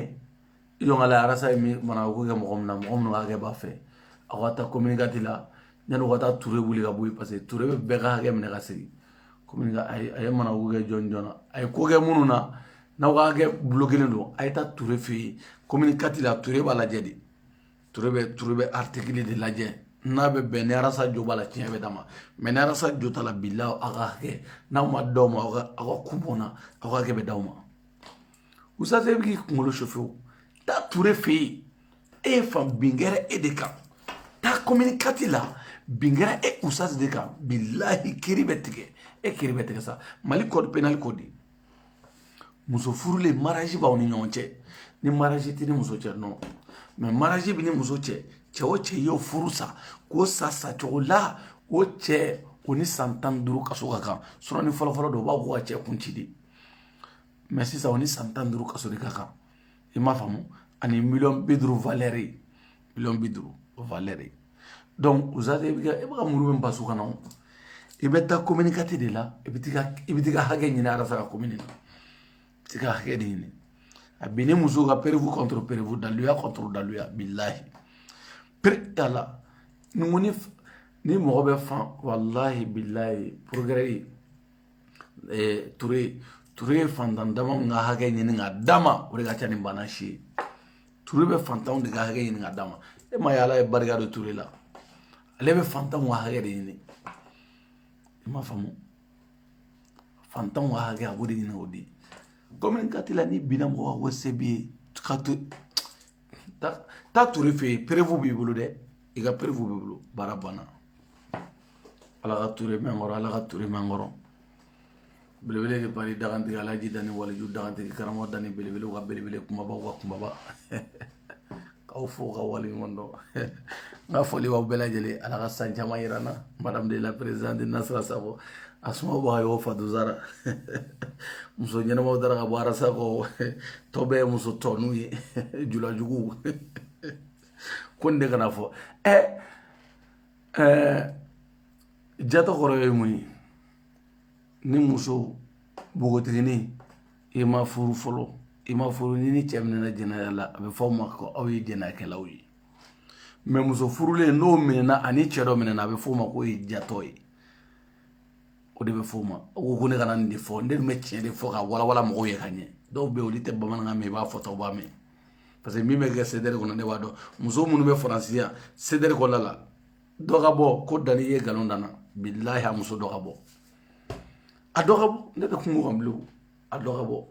[SPEAKER 1] yɔnkala arasa ye min mana ko kɛ mɔgɔ min na mɔgɔ minnu ka hakɛ b'a fɛ aw ka taa commune quatre la yanni u ka taa ture wuli ka bɔ yen parce que ture bɛ bɛɛ ka hakɛ minɛ ka segin komi a ye mana ko kɛ joona joona a ye ko kɛ minnu na n'aw ka hakɛ bulokelen don a ye taa ture fɛ yen commune quatre la ture b'a lajɛ de ture bɛ ture bɛ artikili de lajɛ n'a bɛ bɛn ni arasa jo b'a la tiɲɛ bɛ d'a ma mɛ ni arasa jo t'a la bilahi aw ka hakɛ n'a ma d'aw ma aw ka aw ka kun bɔ n na aw ka hakɛ bɛ d'aw ma usaze e bɛ k'i kunkolo sofe o taa ture fɛ yen e ye fan bin kɛra e de kan taa komini kati la bin kɛra e usaze de kan bilahi kiri bɛ tigɛ e kiri bɛ tigɛ sa mali kɔdi penali kɔdi muso furulen mariyazi b'aw ni ɲɔgɔn cɛ ni mariyazi t'i ni muso cɛ nɔ mɛ mariyazi b'i ni muso cɛ cɛ o cɛ y'o furu sa k'o sa sacogo la o cɛ o ni san tan ni duuru kaso ka kan sɔrɔ ni fɔlɔfɔlɔ don o b'a fɔ ko ka cɛ kun ci de mɛ sisan o ni san tan duuru kaso de ka kan i m'a faamu ani miliyɔn bi duuru valɛri ye miliyɔn bi duuru valɛri ye donc uzate i bɛ ka i bɛ ka muru bɛn basu kan na o i bɛ taa kominikati de la i bɛ t'i ka i bɛ t'i ka hakɛ ɲini a ka komini na i t'i ka hakɛ de ɲini a binni muso kan perewu kɔntoro perewu daluya kɔntoro daluya bilahi pere ala ni ko ni ni mɔgɔ bɛ fan walahi bilahi porogerɛ ye eh, ture ture ye fantan dama min ka hakɛ ɲini ka d'a ma o de ka ca ni bana si ye ture bɛ fantanw de ka hakɛ ɲini ka d'a ma e ma ye ala ye barika don ture la ale bɛ fantanw ka hakɛ de ɲini i m'a faamu fantanw ka hakɛ a b'o de ɲini k'o di kominikati la n'i binna mɔgɔ ka wari se b'i ye ka to taa ture fɛ yen perewu b'i bolo dɛ i ka perewu b'i bolo baara banna ala ka ture mɛn an kɔrɔ ala ka ture mɛn an kɔrɔ belebele de pari dagantigi alaji dani waliju dagantigi karamɔgɔ dani belebele ka belebele kumaba ka kumaba k'aw fo ka wale ɲuman dɔn n ka foli b'aw bɛɛ lajɛlen ala ka san caman yira an na madame de la présidente nasira sako asuma b'a y'o fatuzara muso ɲɛnamaw dara ka bɔ arasa kɔ tɔ bɛɛ ye muso tɔninw ye julajuguw ko nin de kana fɔ ɛ ɛɛ jatɔ kɔrɔ ye mun ye ni muso npogotiginin i ma furu fɔlɔ i ma furu n'i ni cɛ minɛna jɛnɛya la a bɛ fɔ o ma ko aw ye jɛnɛyakɛlaw ye mɛ muso furulen n'o minɛna ani cɛ dɔ minɛna a bɛ fɔ o ma k'o ye jatɔ ye o de bɛ fɔ o ma o ko ko ne kana nin de fɔ ne tun bɛ tiɲɛ de fɔ ka walawala mɔgɔw ye ka ɲɛ dɔw bɛ yen olu tɛ bamanankan mɛn i b'a fɔ tɔw b'a mɛn parce que min bɛ kɛ sedɛri kɔnɔ ne b'a dɔn muso minnu bɛ faransi yan sedɛri kɔnɔna la dɔ ka bɔ ko dani ye nkalon da n na bilahi a muso dɔ ka bɔ a dɔ ka bɔ ne tɛ kungo kan bilen a dɔ ka bɔ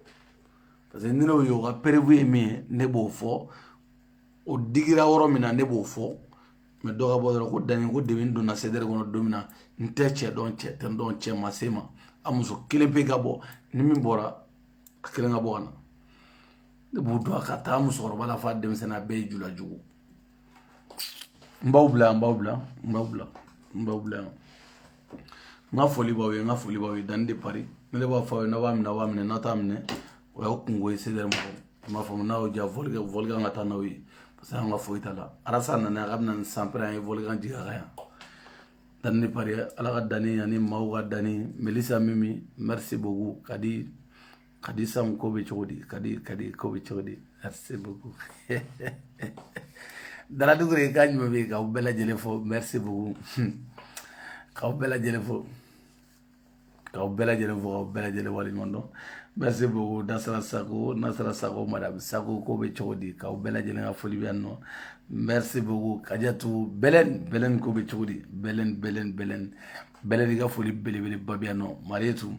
[SPEAKER 1] parce que ni ne y'o ye o ka perewu ye min ye ne b'o fɔ o digira yɔrɔ min na ne b'o fɔ mɛ dɔ ka bɔ dɔrɔn ko dani ko depi n donna sedɛri kɔnɔ don min na n tɛ cɛ dɔn cɛ tɛ n dɔn cɛ ma se n ma a muso kelen pe ka bɔ ni min bɔra a kelen ka bɔ ka na ne b'u dɔn k'a ta a musokɔrɔba la f'a denmisɛnnin a bɛɛ ye jula jugu n b'aw bila yan n b'aw bila n b'aw bila n b'aw bila yan n ka foli b'aw ye n ka foli b'aw ye dani de pari ne de b'a fɔ aw ye n'a b'a minɛ a b'a minɛ n'a t'a minɛ o y'aw kungo ye sedɛri mɔgɔw i m'a faamu n'a y'aw diya vɔlikan vɔlikan ka taa n'aw ye parce que an ka foyi t'a la arasa nana a ka bɛna ni sanpɛrɛn an ye vɔlikan jigin a kan yan dani de pari ala ka dani ani maaw ka dani melisa mimi merci beaucoup ka di Kadi san ko bɛ cogo di kadi kadi ko bɛ cogo di merci beaucoup dala dukure ka ɲuman bɛ k'aw bɛɛ lajɛlen fo merci beaucoup k'aw bɛɛ lajɛlen fo k'aw bɛɛ lajɛlen fo k'aw bɛɛ lajɛlen waleɲuman dɔn merci beaucoup nasara sako nasara sako madame sako ko bɛ cogo di k'aw bɛɛ lajɛlen ka foli bɛ yan nɔ merci beaucoup kajatu bɛlɛn bɛlɛn ko bɛ cogo di bɛlɛn bɛlɛn bɛlɛn bɛlɛn i ka foli belebeleba bɛ yan nɔ mariyetu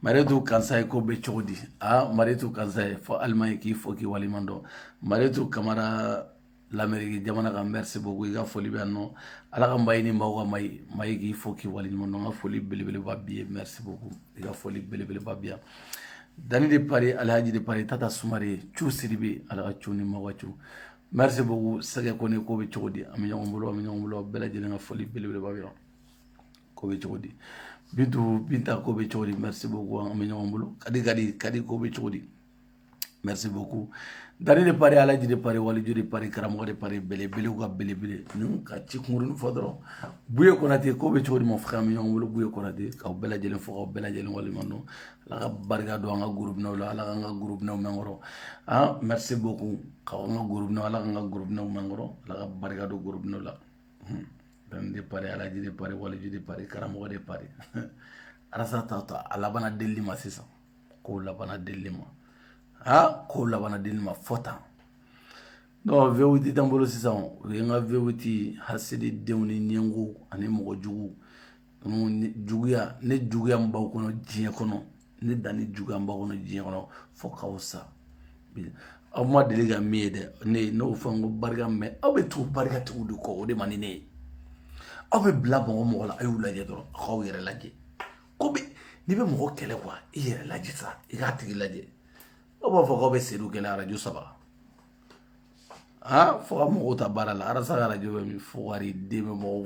[SPEAKER 1] maritu kansaye ko bɛ cogo di a maritu kansaye fo alimaɲi k'i fo k'i waleɲuman dɔn maritu kamara lameriki jamana kan merci beaucoup i ka foli bɛ yan nɔ ala ka mayi ni maaw ka mayi mayi k'i fo k'i waleɲuman dɔn n ka foli belebeleba bi ye merci beaucoup i ka foli belebeleba bi yan dani de pari alhaji de pari tata sumare cu sidibe ala ka cu ni maaw ka cu merci beaucoup sɛgɛ kone ko bɛ cogo di an bɛ ɲɔgɔn bolo an bɛ ɲɔgɔn bolo bɛɛ lajɛlen ka foli belebeleba bi yan ko bɛ cogo di bintu binta ko bɛ cogo di merci beaucoup an bɛ ɲɔgɔn bolo kadi kadi kadi ko bɛ cogo di merci beaucoup dani de pari alaji de pari waliju de pari karamɔgɔ de pari belebelew ka belebele ninnu ka ci kunkurunin fɔ dɔrɔn buye konate ko bɛ cogo di mon frère an bɛ ɲɔgɔn bolo buye konate k'aw bɛɛ lajɛlen fo k'aw bɛɛ lajɛlen waleɲuman dɔn ala ka barika don an ka groupe ninw la ala k'an ka groupe ninw mɛn an kɔrɔ ah merci beaucoup k'aw an ka groupe ninw ala k'an ka groupe ninw mɛn an kɔrɔ ala ka barika don groupe ninw la de pari alaji de pari waliju de pari karamɔgɔ de pari arasa ta ta a labanna deli ma sisan k'o labanna deli ma aa k'o labanna deli ma fɔ tan dɔw vérité t'an bolo sisan u ye nka vérité hasidi denw ni ɲɛngo ani mɔgɔ jugu juguya ne juguya b'aw kɔnɔ diɲɛ kɔnɔ ne dani juguya b'aw kɔnɔ diɲɛ kɔnɔ fo k'aw sa aw ma deli ka min ye dɛ ne n'o fɛn ko barika mɛ aw bɛ tugu barikatigiw de kɔ o de man di ne ye aw bɛ bila mɔgɔ mɔgɔ la a y'u lajɛ dɔrɔn a k'aw yɛrɛ lajɛ ko bɛ n'i bɛ mɔgɔ kɛlɛ quoi i yɛrɛ lajɛ sa i k'a tigi lajɛ aw b'a fɔ k'aw bɛ sedu kɛlɛ arajo saba aa fo ka mɔgɔw ta baara la arasa ka arajo bɛ min fo wari de bɛ mɔgɔw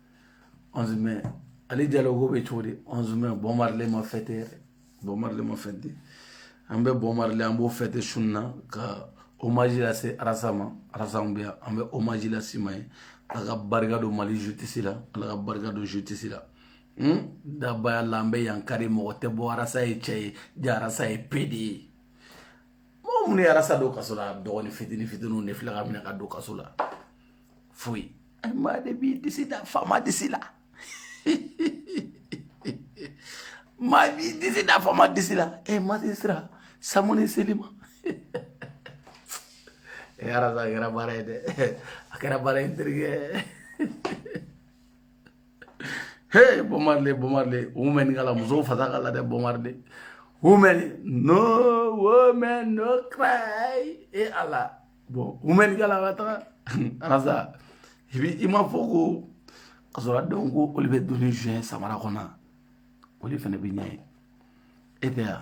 [SPEAKER 1] 11 mai ali jalo ko bɛ cogo di 11 mai bob marley ma fête yɛrɛ bob marley ma fête an bɛ bob marley an b'o fête su in na ka hommage lase arasa ma arasa bɛ yan an bɛ hommage lase ma ye ala ka barika don mali justice la ala ka barika don justice la hmm? dabaya la an bɛ yan kari mɔgɔ tɛ bɔ arasa ye cɛ ye ja arasa ye pédé ye mɔgɔ minnu ye arasa don kaso la dɔgɔnin fitini fitiniw de filɛ k'a minɛ k'a don kaso la foyi a ye maa de b'i disi da faama disi la maa b'i disi da faama disi la e ma se sira samu ni seli ma e ala sa a kɛra baara ye dɛ a kɛra baara ye n terikɛ he bob marley bob marley women kala musow fasa kala dɛ bob marley women no woman no cry e ala bon women kala ka taga arasa i bi i ma fɔ ko ka sɔrɔ a denw ko olu bɛ dumuni zuɲɛ samara kɔnɔ olu fana bɛ ɲɛ e tɛ yan